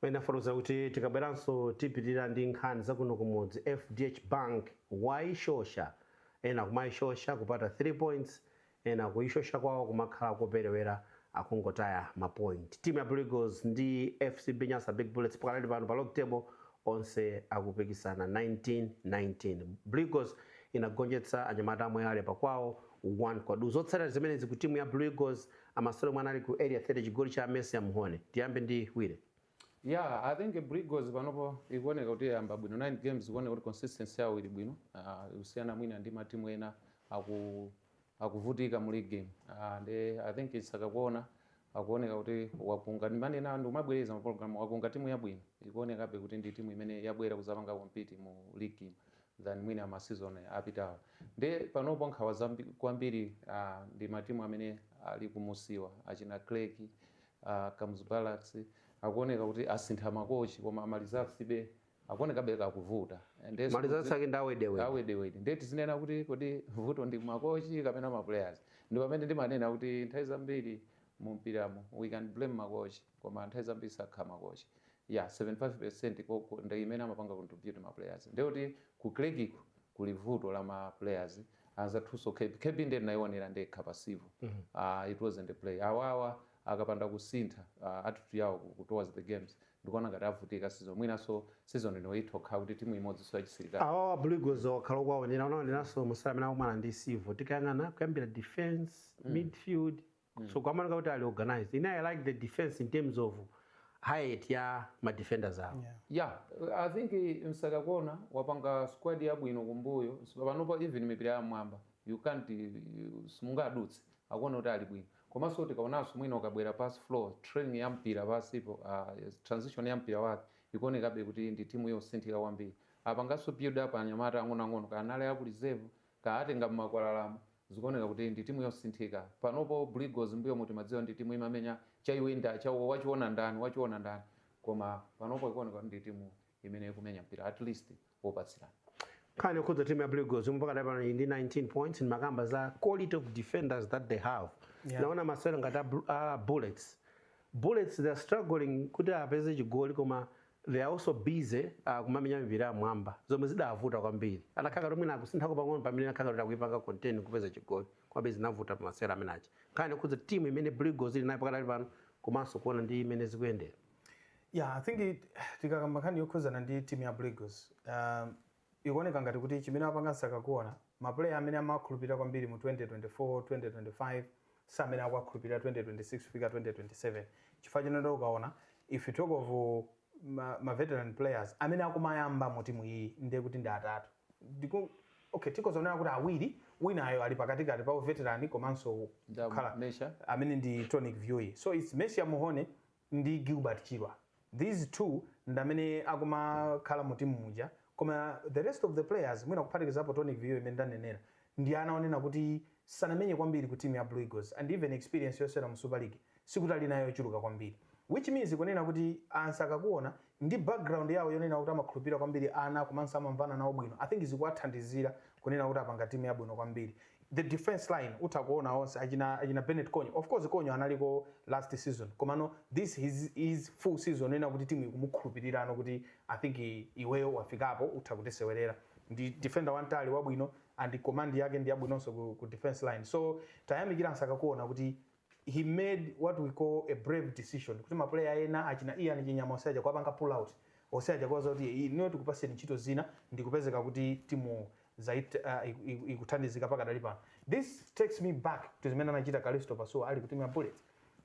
tinafotokoza kuti tikabweranso tipitirira ndi nkhani zakuno kumudzi fdh bank wayishosha ena kumayishosha kupata 3 points Ena kuishosha kwawo kumakhala kopelewera akungotaya ma point. Team ya Blue Eagles ndi FCB Nyasa Big Bullets pakanali pano pa log table onse akupikisana 1919. Blue Eagles inagonjetsa anyamata a Moyale pa kwawo 1 kwa duu. Zotsatira zimenezi ku timu ya Blue Eagles amasewero omwe anali ku Area 30 chigoli cha Micium Mhone. Tiyambe ndi Willie. Yeah, I think Blue Eagles panopo ikuoneka kuti yayamba bwino 9 games ikuoneka kuti consistency yawo ili bwino uh, kusiyana mwina ndi matimu ena aku akuvutika mu league game uh, nde I think Msakakuona akuoneka kuti wakunga ndimanena ndikumabwereza mu program wakunga timu yabwino ikuonekabe kuti ndi timu imene yabwera kuzapanga compete mu league game than mwina ma season apitawo nde panopo nkhawa zambi- kwambiri uh, ndi matimu amene ali kumunsiwa achina Creck A Kamuzu Barracks akuoneka kuti asintha ma coach koma ma resultsbe akuonekabe akuvuta. Nde Ma results ake ndi awedewede. awedewede nde tizinena kuti kodi vuto ndi ma coach kapena ma players? Ndi pamene ndimanena kuti nthawi zambiri mu mpiramu we can blame ma coach koma nthawi zambiri sakhala ma coach yeah 75% ndi imene amapanga contribute ma players ndekuti ku Creck-ko kuli vuto la ma players anzathunso kb, kb nde ndinaionera ndekha pa civil aah it wasn't a play awawa akapanda kusintha aah attitude yawo ku towards the games ndikuona ngati avutika season mwinanso season ino itha kukhala kuti timu imodzinso ya chisilikali. Awawa blue eagles wakhala ukuwaonera unaoneranso masewero amene anakumana ndi civil tikayang'ana kuyambira defence, midfield, mm. so akuoneka kuti ali organized ine i like the defense in terms of height ya ma defenders awo yeah. yeah i think eh, Msakakuona wapanga squad yabwino kumbuyo panopa even mipira ya m'mwamba you can't eh, simungadutse akuoneka kuti ali bwino komanso tikaonanso mwina ukabwera pass flow transition ya mpira pasipo uh, ah, transition ya mpira wake ikuonekabe kuti ndi timu yosinthika kwambiri apanganso build up anyamata ang'onoang'ono anali aku reserve Kaatenga mmakwalalamu zikuoneka kuti ndi timu yosinthika panopo blue eagles mbuyomu timaidziwa ndi timu imamenya chaiwinda chaiwinda wachiona ndani wachiona ndani koma panopo ikuoneka kuti ndi timu imene ikumenya mpira at least wopatsirana. Nkhani yokhudza timu ya blue eagles yomwe pakadali pano ili ndi 19 points ndimakamba za quality of defenders that they have Yeah. naona masewero ngati a, Bru- a bullets bullets they are struggling kuti apeze chigoli koma They are also busy uh, kumamenya mipira ya mwamba zomwe zidavuta kwambiri. Anakhala ngati mwina akusinthako pang'ono pamene anakhala ngati akuipanga contain kupeza chigoli komabe zinavuta pa masewera amene aja. Nkhani yokhudza timu imene Blue Eagles ili nayo pakadali pano komanso kuona ndi mmene zikuyendera. Yeah, I think it- tikakamba nkhani yokhuzana ndi timu ya Blue Eagles um, Ikuoneka ngati kuti chimene wapanga Nsakakuona, ma player amene amawakhulupilira kwambiri mu 2024, 2025 si amene akuwakhulupilira 2026 kufika 2027 chifukwa chonena kuti ukaona if you talk of ma ma veteran players amene akumayamba mu timu iyiyi nde kuti ndi atatu ndikuona okay tikhoza kunena kuti awiri winayo ali pakatikati pa u veteran komanso kukhala amene ndi Tonic Viyuyi so it's Micium Mhone ndi Gilbert Chirwa these two ndamene akumakhala mu team muja koma the rest of the players mwina kuphatikizapo Tonic Viyuyi amene ndanenera ndi ana onena kuti sanamenye kwambiri ku team ya Blue Eagles and even experience yosewera mu super league sikuti alinayo yochuluka kwambiri which means kunena kuti a Nsakakuona ndi background yawo yonena kuti amakhulupira kwambiri ana komanso amamvana nawo bwino i think zikuwathandizira kunena kuti apanga timu yabwino kwambiri the defense line utha kuona onse achina, achina benet konyo of course konyo analiko last season komano this is his full season onena kuti timu ikumukhulupirirano kuti i think i- iweyo wafikapo utha kutisewerera ndi defender wamtali wabwino and command yake ndi yabwinonso ku, ku defense line so tayamikira nsakakuona kuti he made what we call a brave decision kuti mapuleya ena achina ian chinyama onse aja kuwapanga pull out onse aja kuwauza kuti "Iyi, inuyo tikupaseni ntchito zina ndikupezeka kuti timu zait uh, iku- iku- ikuthandizika pakadali pano this takes me back to zimene anachita kalisto pasuwa ali ku timu ya bullets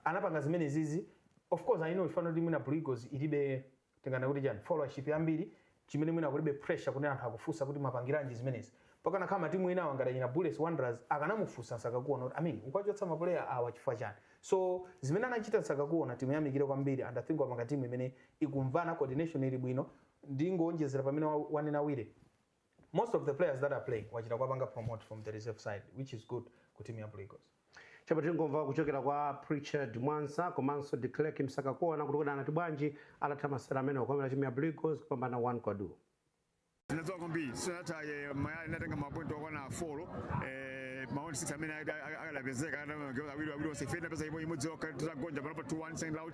anapanga zimene zizi of course i know ifano timu ya blue eagles ilibe Tinganene kuti chani? Followership yambiri chimene mwina kulibe pressure kuti anthu akufunsa kuti mwapangiranji zimenezi. Pakanakhala ma team enawa ngati achina Bullets, Wanderers akanamufunsa Nsakakuona kuti I mean ukuwachotsa ma player awa chifukwa chani? So zimene anachita Nsakakuona timuyamikire kwambiri and I think wapanga team imene ikumvana, coordination ili bwino. Ndingoonjezera pamene wanena Willy. Most of the players that are playing wachita kuwapanga promote from the reserve side which is good ku team ya Blue Eagles. Chabwino tingomva kuchokera kwa Pritchard Mwansa komanso De Klerk Msakakuona kuti kodi anati bwanji atatha masewero amenewa kukomera timu ya Blue Eagles kupambana 1 kwa du. Zinazoa kwambiri sinataye mayaya inatenga mapointi okwana 4 eh maoni sita amene akadapezeka awiri awiri onse ife inapeza imodzi yokha titagonja panopa 2-1 second round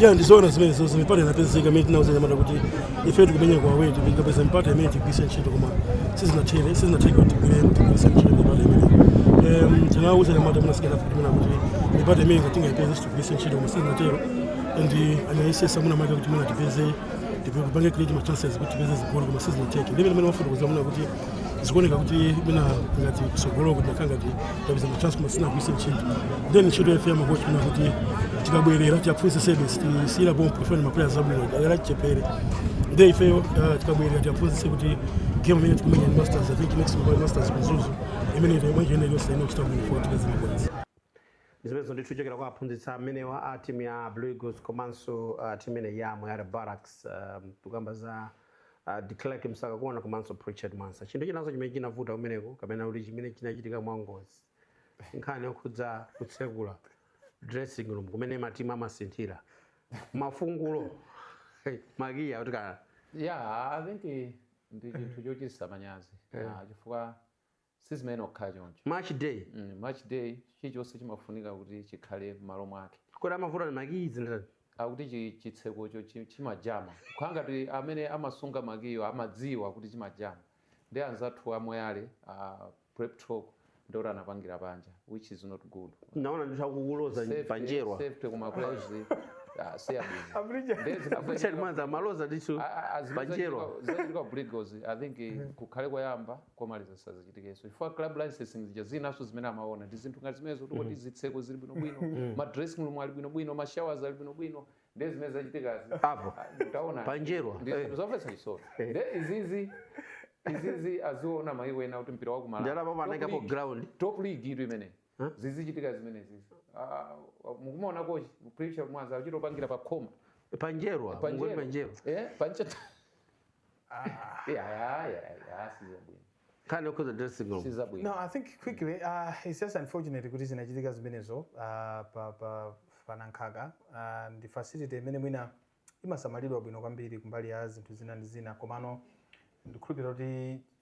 ya ndizoona zimene zonse mipata inapezeka imene tinawauza anyamata kuti ife tikumenya kwa away tikapeza mipata imene tigwiritse ntchito koma sizinathere sizinatheka kuti tigwire tigwiritse ntchito mipata imene Em, tinawauza anyamata mwina sikana kuti mwina kuti mipata imene ngati tingaipeze tiigwiritse ntchito koma sizinatero and anayesetsa mwina maka kuti mwina tipeze tipange create ma chances kuti tipeze zigoli koma sizinatheke ndi mmene mmene wafotokoza mwina kuti zikuoneka kuti mwina ngati kutsogoloku tinakhala ngati tapeza ma chance koma sitinagwiritse ntchito then ntchito ya ife makochi kuona kuti tikabwerera tiwaphunzitse service tisiyira pompo chifukwa ndi mapuleya abwino achichepere nde ifeyo ah, tikabwerera tiwaphunzitse kuti game imene tikumenya ni masters i think next week masters ku mzuzu imene team ikuyenda iliyonse ifuna kuchita bwino for tikazima kwanza zimenezo ndithu kuchokera kwa aphunzitsi amenewa a timu ya blue eagles komanso uh, timu imene ya moyale barracks um, tikukamba za uh, Declerk Msakakuona komanso Pritchard Mwansa. Chinthu chinanso chimene chinavuta kumeneko kapena kuti chimene chinachitika mwangozi ndi nkhani yokhudza kutsekula dressing room kumene matimu amasinthira mafungulo makiya kuti kana yeah i think ndi chinthu chochititsa manyazi Ah, chifukwa Sizimayenera kukhala choncho. Match day. Mm, match day chilichonse chimafunika kuti chikhale m'malo mwake. Kodi amavuta ndi makiyi zinthu. Akuti chi, chitsekocho chi- chimajama. Kukhala ngati amene amasunga makiyo amadziwa kuti chimajama. Ndi anzathu a Moyale a Pep Talk ndi oti anapangira panja which is not good. Naona ndithu akukuloza Safety- panjerwa. Safety ya ma players ah, si abwino. Abulija. Ndiye zinazachitika- Pritchard Mwansa amaloza ndithu A- a- a- zimene panjerwa. zachitika- zachitika Blue Eagles, I think eh, kukhale koyamba komaliza zisazachitikenso chifukwa club licensing zija zinanso zimene amaona ndi zinthu ngati zimenezo kuti kodi zitseko zili bwinobwino ma dressing room ali bwinobwino ma showers ali bwinobwino ndiye zimene zachitikazi Apo. Ah, utaona Panjerwa. Ndi- Eh. zomvetsa chisoni nde izizi izizi aziona maiko ena kuti mpira wa kumalawi Ndalama. Top anaikapo league- ground. top league itu imene Huh? Zizichitika zimenezizi. Uh, mukumuona kochi Pritchard Mwansa achita pangira pa khoma. Panjerwa, mungoni panjerwa. Eh, panjerwa. Ah. Yeah, yeah, yeah, yeah, sizo bwino. Kind of cause dressing room. Sizo bwino. No, I think quickly, uh, it's just unfortunate kuti zinachitika zimenezo uh, pa pa pa Nankhaka uh, ndi facility imene mwina imasamalidwa bwino kwambiri kumbali ya zinthu zina ndi zina komano ndikhulupirira kuti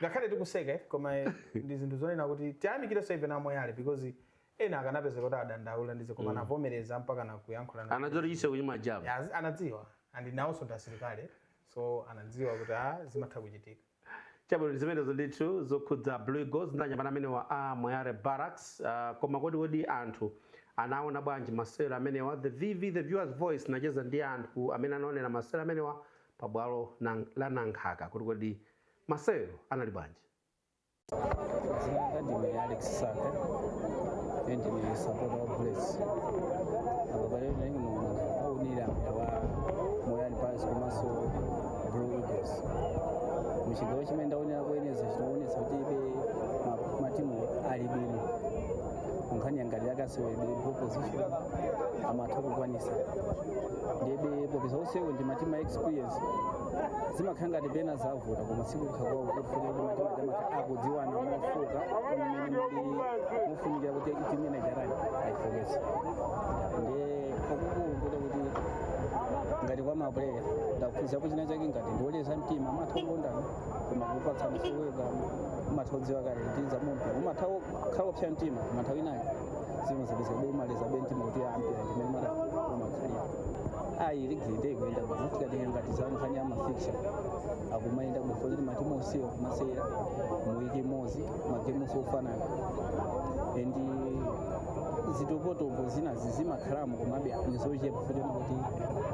ngakhale tikuseka eh, koma eh, ndi zinthu zonena kuti tiyamikirenso ife a moyale because ena akanapezeka kuti adandaula ndi izi koma anavomereza mpaka na kuyankhula na- anadziwa kuti chitseko chimajama Ya, azi- anadziwa and nawonso ndi asilikali so anadziwa kuti ah, zimatha kuchitika chabwino ndi zimenezo ndithu zokhudza blue eagles ndi anyamata amenewa a moyale barracks uh, koma kodi kodi anthu anaona bwanji masewero amenewa the vv the viewers voice nacheza ndi anthu amene anaonera masewero amenewa pa bwalo nang- la nankhaka kuti kodi Masewero anali bwanji? Dzina langa ndine Alex Saka ine ndine sapota wa Bullets apa palero ndinali kuno kuwonera mpira wa Moyale Barracks komanso Blue Eagles muchigawo chimene ndawonera kuyeneza chinaonetsa kuti be ma- matimu ali bwino nkhani ya ngati ya kaseweredwe ball possession amatha kukwanisa ndiyebe popeza onsewo ndi matimu a experience zimakhala ngati pena zavuta koma sikufuna kwawo kufuna kuti matimu makamaka akudziwana mofuka mmene muli mufunikira kuti timene jarani ayifokese ndiye kwakukulu kuda kuti ngati kwa mapuleya ndakuphunzira kuti china chake ngati ndioleza mtima umatha kukondana koma kupatsana ulemu umatha kudziwa kale ndiza mumpira umatha kukhala kupsa mtima umatha winayo zimazapezeka kuti umaleza be mtima kuti mpira ndimene mata umakhalira ayi ligi nde ikuyenda bwino tikatenge ngati za nkhani ya mafixture akumayenda bwino kuti matimu onsewo akumasewera mu wiki imodzi magemu onse ofanana and zitopotopo zinazi zimakhalamo komabe ndizochepa poti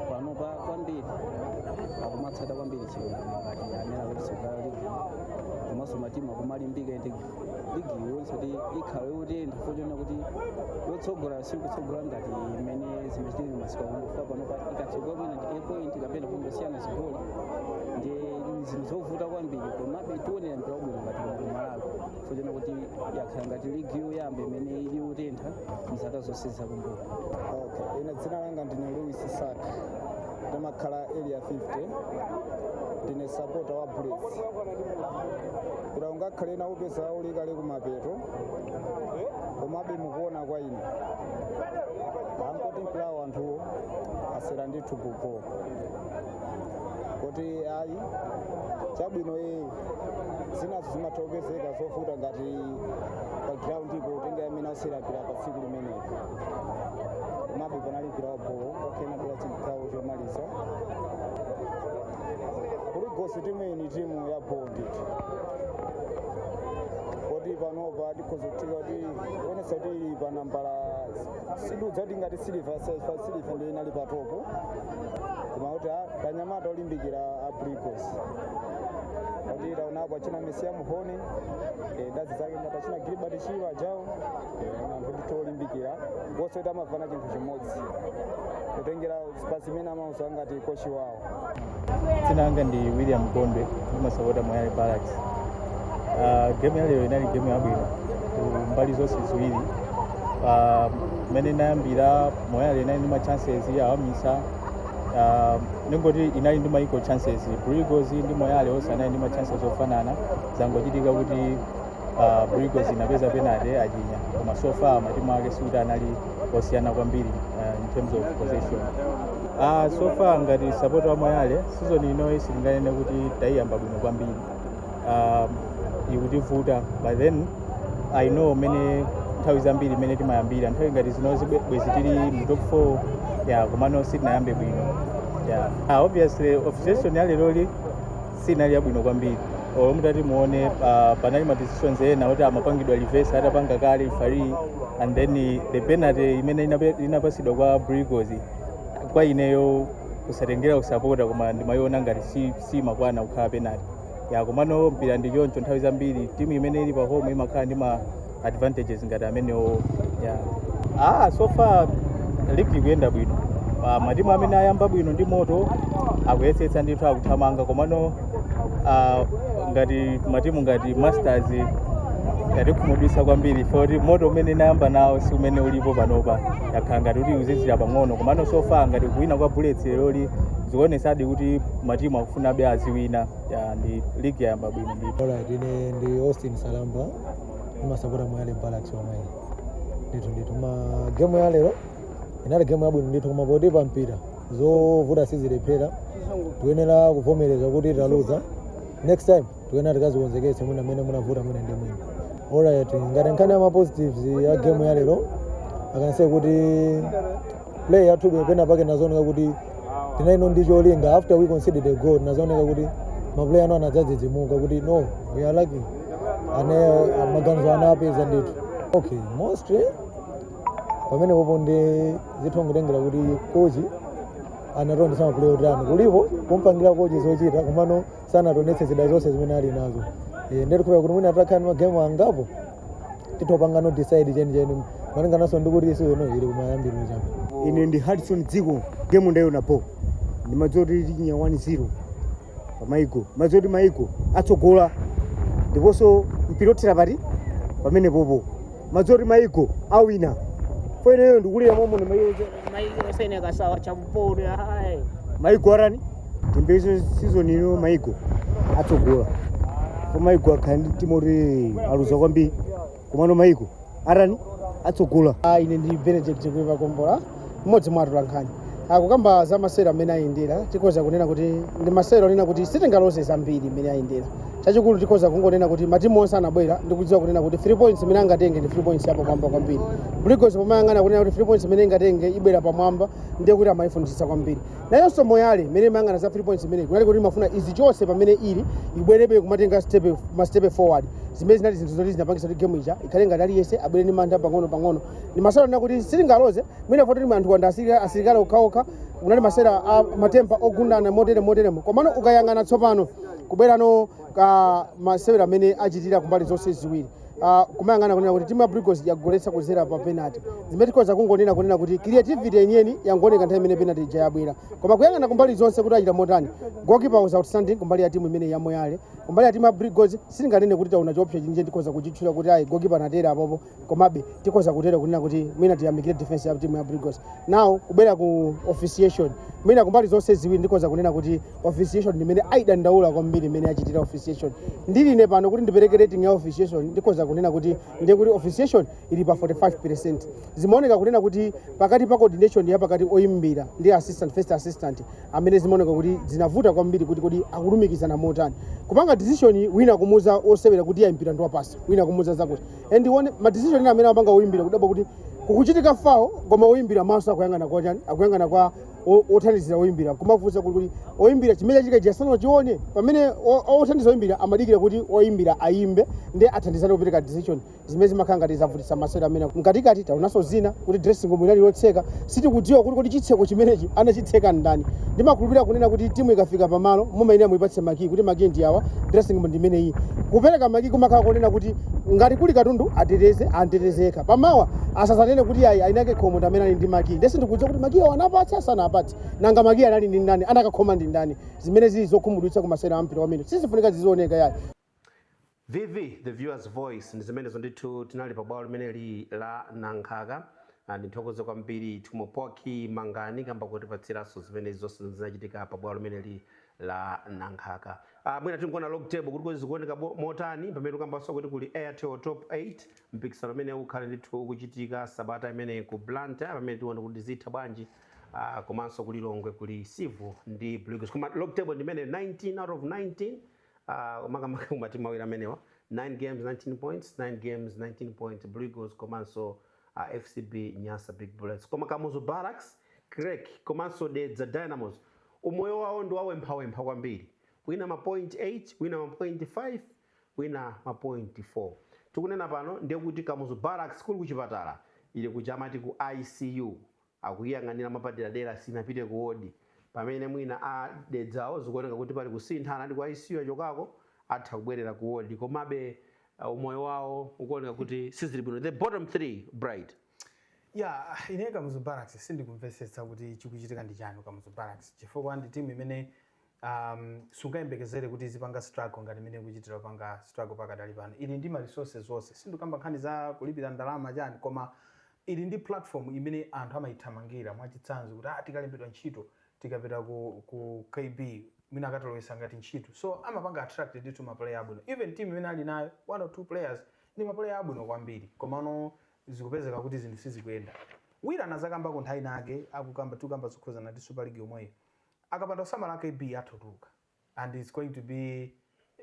panopa kwambiri akumatsata kwambiri chilungamo ngati amene akutsogola ligi komanso matimu akumalimbika ndi ligi yonse kuti ikhale yotentha poona kuti yotsogola sikutsogola ngati mmene zimachitikira masiku akumbuyowa panopa ikatsogola kwina ndi point kapena kungosiyana zigoli ndi zinthu zovuta kwambiri komabe tikuonera mpira wabwino ngati mu Malawi poona kuti yakhala ngati ligi yoyamba imene ili yotentha mzaka zonse zakumbuyo Okay. Ine dzina langa ndine Louis Saka ndimakhala area 50 ndine sapota wa Bullets kuti ungakhale na upeza uli kale kumapeto komabe mukuona kwa ine angoti mpulawo anthuwo asewera ndithu pupo kuti ayi chabwino iyi zinazi zimatha kupezeka zovuta ngati pa ground ipo kutengera mmene asewera mpira pa tsiku limeneli komabe panali vilapo okena bila chigawo chomaliza Blue Eagles timu iyi ni timu ya bho ndithu poti panopa tikhoza kuthika kuti kuonesa kuti ili pa nambala sidudza kuti ngati Silver Strikers Silver ndi inali pa topo koma kuti a- anyamata olimbikira a Blue Eagles kuti taonapo achina Mecium Mhone eh, ndi anzake ngati achina Gilbert Chirwa ajawo anthu ndithu olimbikira wonse kuti amafuna chinthu chimodzi kutengera pa zimene amauza ngati kochi wawo dzina langa ndi william gondwe ndimasapota moyale barracks uh, game ya lero inali game yabwino ku mbali zonse ziwiri uh, mmene inayambira moyale inali ndi ma chances awamisa uh, ningoti inali ndi maiko chances Blue Eagles ndi moyale onse anali ndi ma chances ofanana zangochitika kuti uh, Blue Eagles inapeza penalty achinya koma so far matimu ake sikuti anali osiyana kwambiri uh, in terms of possession uh, so far ngati sapota wa moyale season inoyi sitinganene kuti taiyamba bwino kwambiri um, ikutivuta but then i know mene nthawi zambiri imene timayambira nthawi ngati zinozi bwe- bwezi tili mu top 4 ya komano sitinayambe bwino ya ah, obviously officiation ya leroli sinali yabwino kwambiri olo mutati muone uh, panali ma decisions ena oti amapangidwa reverse atapanga kale referee and then eh, the penalty imene inape- inapasidwa kwa Blue Eagles kwa ineyo kusatengera kusapota koma ndimayiona ngati si, si makwana kukhala penalty ya komano mpira ndi choncho nthawi zambiri timu imene ili pa home imakhala ndi ma advantages ngati amenewo yeah. ah, so far ligi ikuyenda bwino ah, matimu amene ayamba bwino ndi moto akuyesetsa ndithu akuthamanga komano ah, ngati matimu ngati masters yatikhumudwisa kwambiri poti moto umene inayamba nawo si umene ulipo panopa yakhala ngati kuti ukuzizira pang'ono komano so far ngati kuwina kwa bullets leroli zikuonesadi kuti matimu akufunabe aziwina yeah, ndi ligi yayamba bwino ndithu Alright, ine ndi Austin Salamba ndimasapota moyale barracks wamwene ndithu ndithu ma gemu ya lero inali gemu yabwino ndithu koma poti pa mpira zovuta sizilephera tikuyenera kuvomereza kuti taluza next time tikuyenera tikazikonzekese mwina mmene munavuta mwina ndi mwina alright ngati nkhani ya ma positives ya gemu ya lero ndi kunena kuti play yathu lero pena pake nazooneka kuti inalino ndi cholinga after we conceded a goal nazooneka kuti maplayer ano anadzadzidzimuka kuti no we are lacking ane maganizo ana apeza ndithu okay mostly pamene popo ndi zinthu zotengera kuti kochi anatonesa maplayer otani kulibe kumpangira kochi zochita komano sanatonetse zida zonse zimene ali nazo Eh, ndiye tikuyesa kuti mwina atakhala ndi magemu angapo tithano kupanga decide chenicheni malingananso ndi kuti season ili kumayambiro chapa ine ndi hudson dziko gemu ndayona po ndimadziwa kuti tichinya 1-0 pa maiko madziwa kuti maiko atsogola ndiponso mpira othera pa pamenepopo madziwa kuti maiko awina poti ineyo ndikulira momwe maiko maiko osene kasawa champoto hai maiko arani timbeso season ino maiko atsogola ko maiko akhala ndi timu oti aluza kwambiri komano maiko arani atsogola Ah, ine ndi benedict kuiva kombola mmodzi mwa atolankhani akukamba za masewero amene ayendera tikhoza kunena kuti ndi masewero onena kuti sitingaloze zambiri mmene ayendera chachikulu tikhoza kungonena kuti matimu onse anabwera ndi kudziwa kunena kuti 3 points imene angatenge ndi 3 points yapamwamba kwambiri brigos pomayang'ana kunena kuti 3 points imene ingatenge ibwera pamwamba ndiye kuti amayifunitsitsa kwambiri nayonso moyale imene imayang'ana za 3 points imene kunali kuti imafuna izi chonse pamene ili ibwerebe kumatenga stepe mastepe forward zimene zinali zinthu zoti zinapangisa kuti game ija ikhale ngati aliyense abwere ndi mantha pang'ono pang'ono ndi masewera onena kuti sitingaloze mwina poti ndi anthu wamba asirikali asirikali okhaokha unali masewera a matempa ogundana motere moteremo komano ukayang'ana tsopano kubwerano ku masewero amene achitira kumbali zonse ziwiri uh, kumayang'ana kunena kuti timu ya brigos yagoletsa kuzera pa penalty zimene tikhoza kungonena kunena kuti creativity yeniyeni yangoneka nthawi imene penalty ija yabwera koma kuyang'ana kumbali zonse kuti achita motani goalkeeper was outstanding kumbali ya timu imene ya moyale kumbali ya timu ya brigos sitinganene kuti taona chiopsa chimene tikhoza kuchitchula kuti ayi goalkeeper anatero apapa komabe tikhoza kutero kunena kuti mwina tiyamikire defense ya timu ya brigos now kubwera ku officiation mwina kumbali zonse ziwiri ndikhoza kunena kuti officiation ndimene ayidandaula kwambiri imene yachitira officiation ndili ine pano kuti ndipereke rating ya officiation ndikhoza kunena kuti ndiye kuti officiation ili pa 45 percent zimaoneka kunena kuti pakati pa coordination ya pakati oyimbira ndi assistant first assistant amene zimaoneka kuti zinavuta kwambiri kuti kodi akulumikizana motani kupanga decision wina kumuza osewera kuti ayimbira ndi goal kick wina kumuza zakuti and one ma decision ena amene amapanga oyimbira kudabwa kuti kukuchitika fawo koma oyimbira maso akuyang'ana kwa chani akuyang'ana kwa o- othandizira oyimbira kumafunsa kuti kodi oyimbira chimene chachitika chiyani sanachione pamene o- o- othandiza oyimbira amadikira kuti oyimbira ayimbe nde athandizane kupereka decision zimene zimakhala ngati zavutitsa masewero amene mkatikati taonanso zina kuti dressing room inali yotseka sitikudziwa kuti kodi chitseko chimenechi anachitseka ndani ndimakhulupirira kunena kuti timu ikafika pamalo mumayenera muipatse makii kuti makii ndi awa dressing room ndi imeneyi kupereka makii kumakhala kunena kuti ngati kuli katundu ateteze ateteze yekha pamawa asadzanene kuti ayi anakakhoma ndi amene ali ndi makiyi nde sindikudziwa kuti makiyi anapatsa sanapatse nanga makiyi anali ndi ndani anakakhoma ndi ndani zimene zili zokhumudwitsa ku masewera a mpira amene sizikufunika zizioneka yayi vv the viewers voice ndi zimenezo ndithu tinali pa bwalo limeneli la nankhaka Ah, ndithokoze kwambiri tumopoki mangani kamba kotipatsiranso zimene zonse zinachitika pa bwalo limeneli lanankhaka ah, mwina tikuona log table kuti kuti zikuoneka bo- motani pamene tikambanso kuti kuli airtel top 8 mpikisano umene ukhale ndithu ukuchitika sabata imene ku blantyre pamene tione kuti zitha bwanji ah, komanso ku lilongwe kuli civo ndi blues koma log table ndi imene 19 out of 19 ah, makamaka kumatimu awiri amenewa 9 games 19 points 9 games 19 points blue eagles komanso uh, fcb nyasa big bullets koma kamuzu barracks creck komanso dedza dynamos Umoyo wawo ndi wawemphawempha kwambiri, wina mapointi 8, wina mapointi 5, wina mapointi 4. Tikunena pano ndiye kuti Kamuzu Barracks kuli kuchipatala, ili kuja amati ku ICU, akuiyang'anira mwapaderadera sinapite ku ward. Pamene mwina a Dedzawo zikuoneka kuti pali kusintha, anali ku ICU achokako atha kubwerera ku ward komabe umoyo wawo ukuoneka kuti sizili bwino. The bottom three bright. ya ine kamuzu barracks sindikumvetsetsa kuti chikuchitika ndi chani kamuzu barracks chifukwa ndi timu imene um, sungayembekezere kuti izipanga struggle ngati imene ikuchitira kupanga struggle pakadali pano ili ndi ma resources onse sindikamba nkhani za kulipira ndalama chani koma ili ndi platform imene anthu amayithamangira mwachitsanzo kuti ah, tikalembedwa ntchito tikapita ku, ku kb mwina akatilowesa ngati ntchito so amapanga attract ndithu maplayer abwino even team imene ali nayo one or two players ndi maplayer abwino kwambiri komano zikupezeka kuti zinthu sizikuyenda wira anazakambako nthawi inayake akukamba tikukamba zokhudzana ndi super league yomweyi akapanda kusamala kb atha kutuluka and its going to be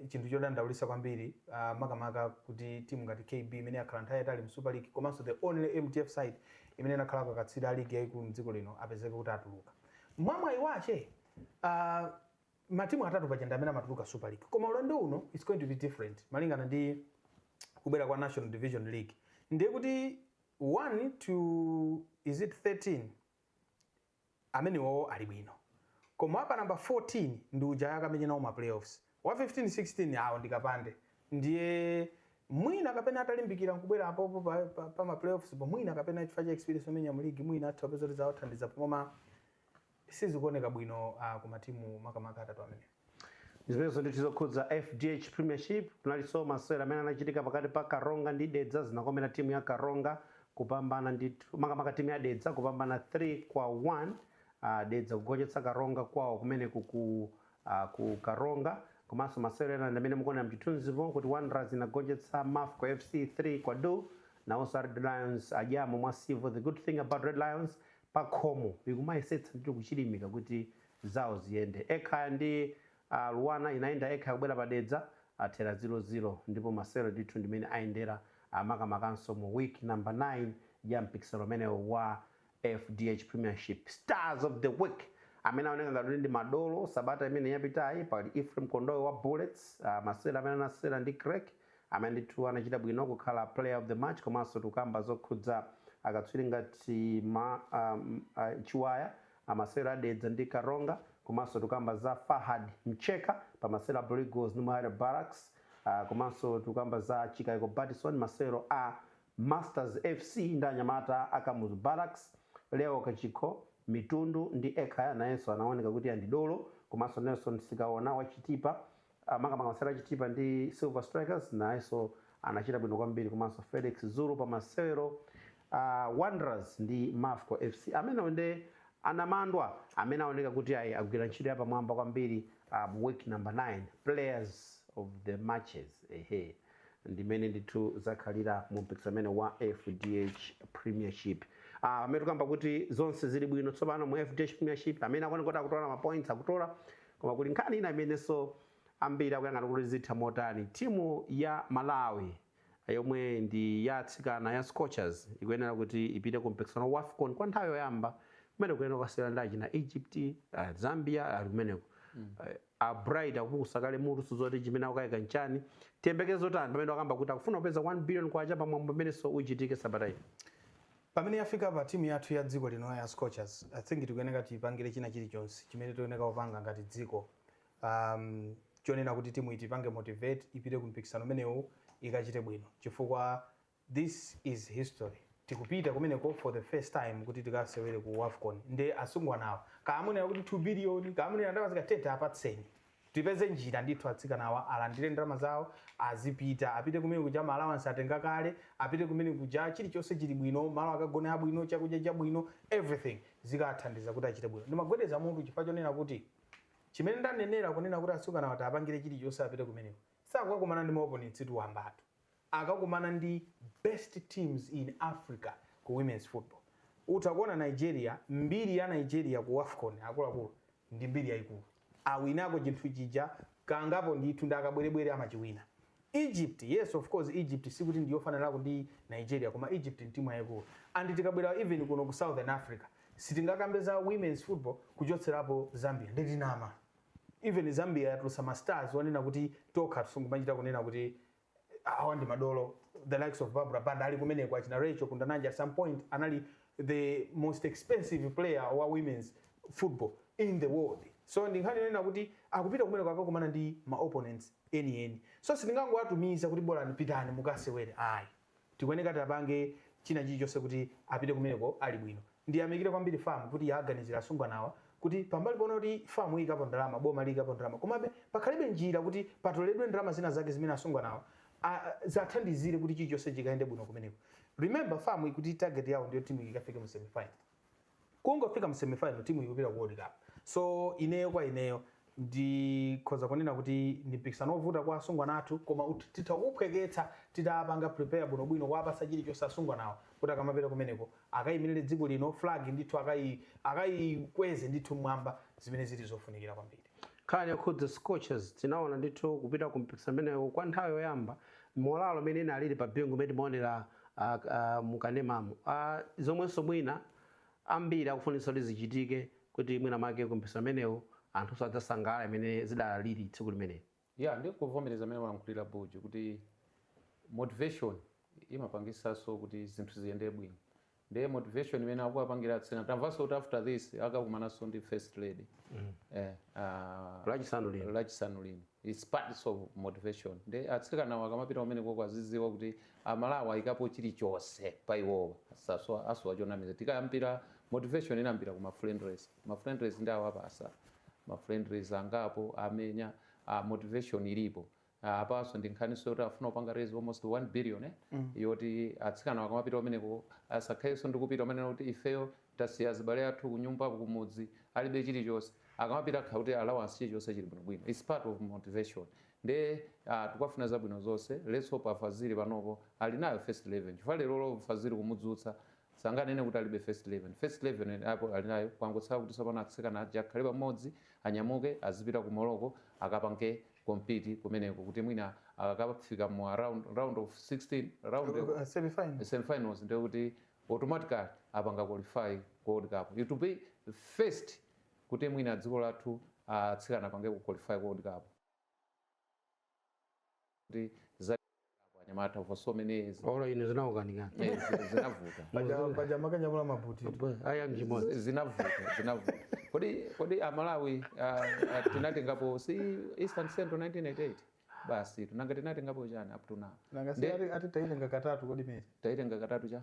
chinthu chodandaulisa kwambiri uh, makamaka kuti timu ngati kb imene yakhala nthawi yatali mu super league komanso the only mdf side imene inakhala akatswiri a ligi yayikulu mdziko lino apezeke kuti atuluka mwamwayi wache uh, matimu atatu paja ndiamene amatuluka super league koma ulendo uno its going to be different malingana ndi kubwera kwa national division league ndiye kuti 1 to is it 13 amenewowo ali bwino koma apa namba 14 ndi uja akamenya nawo ma playoffs wa 15 16 awo ndikapande ndiye mwina kapena atalimbika nkubwera apopo pa, pa, pa ma playoffs po mwina kapena chifukwa cha experience omenya mu league mwina atha kupeza kuti zawathandiza pomo koma sizikuoneka bwino uh, ku matimu makamaka atatu amenewa zimenezo ndithu zokhudza fdh premiership kunalinso masewera amene anachitika pakati pa karonga ndi dedza zinakomera timu ya karonga kupambana ndithu makamaka timu ya dedza kupambana 3 kwa 1 uh, dedza kugonjetsa karonga kwawo kumeneku ku, uh, ku karonga komanso masewera ena ndi amene mukuonera mchithunzipo kuti wanderers inagonjetsa mafco fc 3 kwa 2 nawonso red lions a jomo ndi civil the good thing about red lions pakhomo ikumayesetsa ndithu kuchilimika kuti zawo ziyende. Ekhaya ndi LUANAR inayenda Ekhaya kubwera pa Dedza athera 0, 0 ndipo masewero ndithu ndi mmene ayendera makamakanso mu week number 9 ya mpikisano umenewu wa fdh Premiership. Stars of the week amene aoneka ngati kuti ndi madolo sabata imene yapitayi pali Ephraim Kondowe wa Bullets, a masewero amene anasewera ndi Creck, Amene ndithu anachita bwino kukhala player of the match komanso tikukamba zokhudza akatswiri ngati ma ahm Chiwaya a masewero a Dedza ndi Karonga komanso tikukamba za Fahad Mcheka pa masewero a Blue Eagles ndi Moyale Barracks aah komanso tikukamba za Chikaiko Batison masewero a Masters FC ndi anyamata a Kamuzu Barracks, Leo Kachikho, Mitundu ndi Ekhaya nayenso anawoneka kuti ndi dolo komanso Nelson Sikaona wa Chitipa a makamaka masewero a Chitipa ndi Silver Strikers nayenso anachita bwino kwambiri komanso Felix Zulu pa masewero a Wanderers ndi Mafco FC. Amenewo nde anamadwa amene aoneka kuti ayi agwira ntchito yapamwamba kwambiri ah, mu week number 9 players of the matches ehe ndi mmene ndithu zakhalira mu mpikisano umenewu wa fdh premiership Ah, amene tikamba kuti zonse zili bwino tsopano mu fdh premiership amene akuoneka kuti akutola mapoints akutola Koma kuli nkhani ina imenenso ambiri akuyang'ana kuti zitha motani. Timu ya Malawi yomwe ndi ya atsikana ya Scorchers ikuyenera kuti ipite ku mpikisano wa Wafcon kwa nthawi yoyamba kumene ikuyenera kukasewera ndi achina Egypt, Zambia ali kumeneko. A Bright akupukusa kale mutu sindikudziwa kuti chimene akukaika nchani. Tiyembekeze zotani pamene wakamba kuti akufuna kupeza 1 billion kwacha pa mwambo umenenso uchitike sabata ino. Pamene yafikapa timu yathu ya dziko lino ya scorchers i think tikuyeneka tiyipangire china chilichonse chimene tikuyeneka kupanga ngati dziko um chonena kuti timuyi tiyipange motivate ipite ku mpikisano umenewu ikachite bwino chifukwa this is history tikupita kumeneko for the first time kuti tikasewere ku wafcon nde asungwanawa kaya amunena kuti 2 billion kaya amunena ndalama zingati tiye tiapatseni Tipeze njira ndithu atsikana awa alandire ndalama zawo azipita apite kumene kuja ma allowance atenga kale apite kumene kuja chilichonse chili bwino malo akagone abwino chakudya chabwino everything zikaathandiza kuti achite bwino ndimagwedeza mutu chifukwa chonena kuti chimene ndanenera kunena kuti atsikanawa tiapangire chilichonse apite kumeneko sakukakumana ndi ma opponents-tu wambatu. akakumana ndi best teams in africa ku womens football utha kuona nigeria mbiri ya nigeria ku wafcon akuluakulu ndi mbiri yaikulu awinako chinthu chija kangapo ndithu ndi akabwerebwere amachiwina egypt yes of course egypt sikuti ndi yofananako ndi nigeria koma egypt ndi timu yaikulu and tikabwera even kuno ku southern africa sitingakambe za womens football kuchotserapo zambia ndiye tinama even zambia yatulusa mastars onena kuti tokha tisungu machita kunena kuti awa ndi madolo the likes of barbara banda ali kumeneko achina racheal kundananja at some point anali the most expensive player wa women's football in the world so ndi nkhani yonena kuti akupita kumeneko akakumana ndi ma opponents enieni so si kungowatumiza kuti bolani pitani mukasewere ayi Tikuyeneka tiapange china chilichonse kuti apite kumeneko ali bwino. Ndiyamikire kwambiri fam kuti yaaganizira asungwanawa kuti pambali poona kuti fam iyikapo ndalama, boma liyikapo ndalama komabe pakhalebe njira kuti patoledwe ndalama zina zake zimene asungwanawa aziathandizire kuti chilichonse chikayende bwino kumeneko. Remember fam ikuti target yawo ndiyo timu iyi ikafike mu semi final. kungofika mu semifinal timu ikupita ku world cup so ineyo kwa ineyo ndikhoza kunena kuti ndi mpikisano wovuta kwa asungwana athu koma ut- titha kuuphweketsa titapanga prepare bwinobwino kuwapasa chilichonse asungwanawo kuti akamapita kumeneko akayimirire dziko lino flag ndithu akayi- akayikweze ndithu mmwamba zimene zili zofunikira kwambiri Nkhani yokhudza Scorchers tinaona ndithu kupita ku mpikisano umenewu kwa nthawi yoyamba morale imene inalili pa Bingu imene timaonera a, a, mu kanemamu a, zomwenso mwina ambiri akufunitsa kuti zichitike kuti mwina make ku mpikisano umenewu anthunso adzasangalale mmene zidalili tsiku limeneli. Yeah ndikuvomereza mmene walankhulira Buju kuti motivation imapangisaso kuti zinthu ziyende bwino nde motivation imene akuwapangira atsikana tamvaso kuti after this akakumanaso ndi first lady mm. eh, uh, lachisanu lino lachisanu lino it's part of motivation nde atsikanawo akamapita kumeneko aziziwa kuti amalawi ayikapo chilichonse pa iwowa saso asowa chonamizira tikayambira motivation inayambira ku ma friendlies ma friendlies anawapasa ma friendlies angapo amenya ah, motivation ilipo Ah, apanso ndi nkhaniso yoti afuna kupanga raise almost 1 billion eh? yoti atsikana akamapita kumeneko asakhalenso ndi kupita kumanena kuti ifeyo tasiya azibale athu kunyumba kumudzi alibe chilichonse akamapita akhale kuti allowance chilichonse chili bwinobwino its part of motivation nde ah, tikafuna zabwino zonse let's hope a fazili panopo ali nayo first eleven chifukwa lerolo fazili kumudzutsa Sanganene kuti alibe first eleven. First eleven yake ali nayo, kwangotsala kuti tsopano atsikana aja akhale pamodzi, anyamuke azipita ku Morocco akapange compete kumeneko kuti mwina akakafika mu around round of 16 round of Uh, semifinal. semifinals ndiye kuti automatically apanga qualify ku World Cup. It will be first kuti mwina dziko lathu atsikana apangeko qualify ku World Cup. kuti zachitikapo anyamata for so many years oro ine zinakukanikani Eh, zi- zinavuta Paja- paja mankanyamula maputi aya mchimodzi Z- zinavuta zinavuta kodi kodi amalawi ah, ah, tinatengapo si eastern central 1988 basi tinanga tinatengapo chani up to now nanga si Nde- ati- ati taitenga katatu kodi mene taitenga katatu cha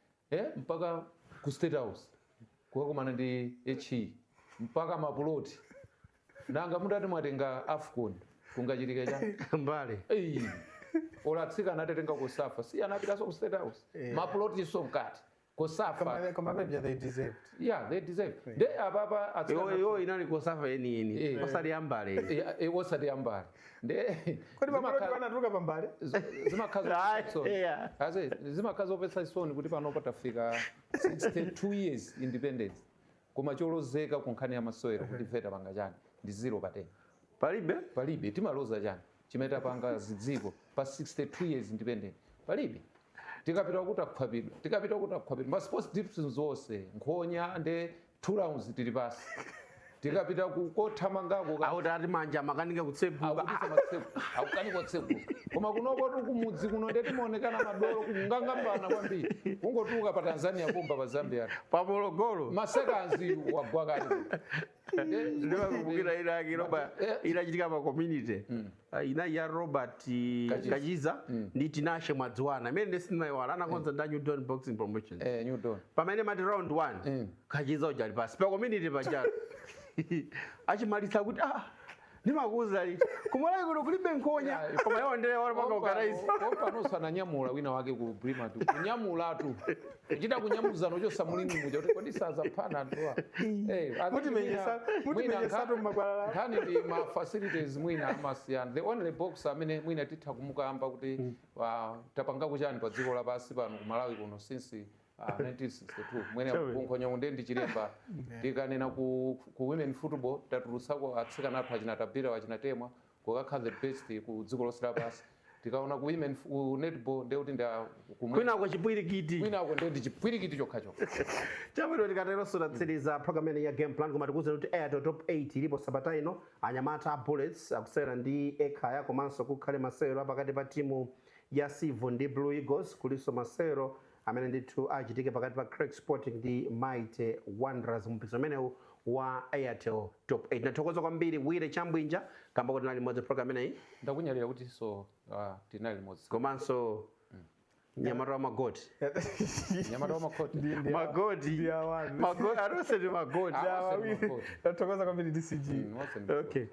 eh, mpaka ku state house kukakumana ndi he mpaka mapuloti nanga ndiye mutati mwatenga afcon kungachitike chani mbale Ei, olo atsikana atatenga cosafa si anapitanso ku state house Eh. mapulotinso mkati cosafa Koma- koma paja they deserved yeah they deserve nde apapa atsikana iwoyo inali cosafa yeniyeni Eh. osati yambale Eh, eh, osati yambale Kodi pamalo kuti panatuluka pambale? Zimakhala zomvetsa chisoni kuti panopa tafika 62 years independence koma cholozeka ku nkhani ya masewera kuti ife tapanga chani ndi zero pa 10 palibe palibe timaloza chani chimene tapanga zidziko pa 62 years independence palibe tikapita kuti akhwapidwa tikapita kuti akhwapidwa ma sports divisions onse nkhonya nde two rounds tili pansi tikapita ku- kothamangako ka- akuti ati manja amakanika kutseguka akupisa matseku akukanika kutseguka koma kunokotu kumudzi kuno ndiye timaonekana madolo kungong'ambana kwambiri kungotuluka pa tanzania pompa pa zambia pamologolo masekandi wagwa kale ndimakumbukira ina yake ili apa Eh. inachitika pa community Ah, ina ija ya robert Kachiza. kachiza ndi tinashe mwadziwana imeneyo nde sindimaiwala anakonza ndi a new dawn boxing promotion eh, new dawn pamene mati round 1 kachiza uja ali pansi pa community paja achimaliza kuti ah ndimakuuzani kuti kumalawi kuno kulibe nkhonya koma iwo ndiye wapanga ukaraisi pompanonso ananyamula wina wake ku primatu kunyamulatu kuchita kunyamuzana kuchotsa mu ring muja kuti kodi saphana anthuwa Eh, I think Mutimenyetsa- mwina- mutimenyetsatu mwina mmakwalala. nkhani ndi ma facilities mwina amasiyana the only boxer amene mwina titha kumukamba kuti ah, tapangako chani pa dziko lapansi pano ku malawi kuno since ah, 1962 mwina Chonde. kunkhonyako ndiye ndi chilemba tikanena ku, ku women football tatulutsako atsikana athu achina tabitha achina temwa kukakhala the best ku dziko lonse lapansi tikaona ku women f- ku netball ndiye kuti ndi a- ku- kwinako chipwirikiti kwinako ndiye ndi chipwirikiti chokhachokha chabwino tikateronso tatsiriza programu imene ya game plan koma tikuwuzani kuti airtel top 8 ilipo sabata ino anyamata a bullets akusewera ndi ekhaya komanso kukhala masewero apakati pa timu ya civil ndi blue eagles kulinso masewero amene ndithu achitike pakati pa Creck Sporting ndi Mighty Wanderers mumpikisano umenewu wa Airtel Top 8. Ndathokoza kwambiri Willy Chambwinja kamba kuti tinali limodzi program imeneyi ndakunyadira kutinso ah, tinali limodzi komanso mnyamata wa magoti mnyamata wa makhoti Ndi- ndi- magoti ndi awani. magoti aronse ndi magoti Ah, Awa, Willy, Magoti. tathokoza kwambiri DCG Mm, onse ndi- okay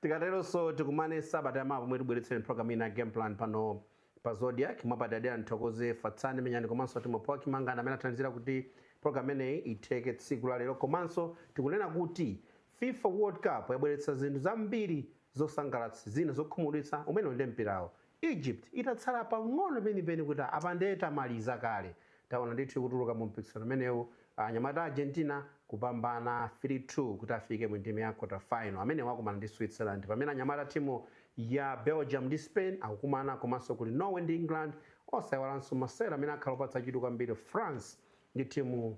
tikateronso tikumane sabata yamawa pomwe tikubweretsereni program ina ya game plan pano Pa Zodiak, mwapadadera ndithokoze Fatsani Menyani komanso Timo Poaki Mangana amene athandizira kuti program imeneyi itheke tsiku la lero. Komanso tikunena kuti fifa World Cup yabweretsa zinthu zambiri zosangalatsa, zina zokhumudwitsa, umenewo nde mpirawo. Egypt itatsala pang'ono penipeni kuti apa nde tamaliza kale. Taona ndithu ikutuluka mu mpikisano umenewu anyamata a Argentina kupambana 3 2 kuti afike mu ndime ya quarter final. Amenewa akumana ndi Switzerland pamene anyamata a timu ya Belgium ndi Spain akukumana komanso kuli Norway ndi England osaiwalanso masewero amene akhala opatsa chidwi kwambiri France ndi timu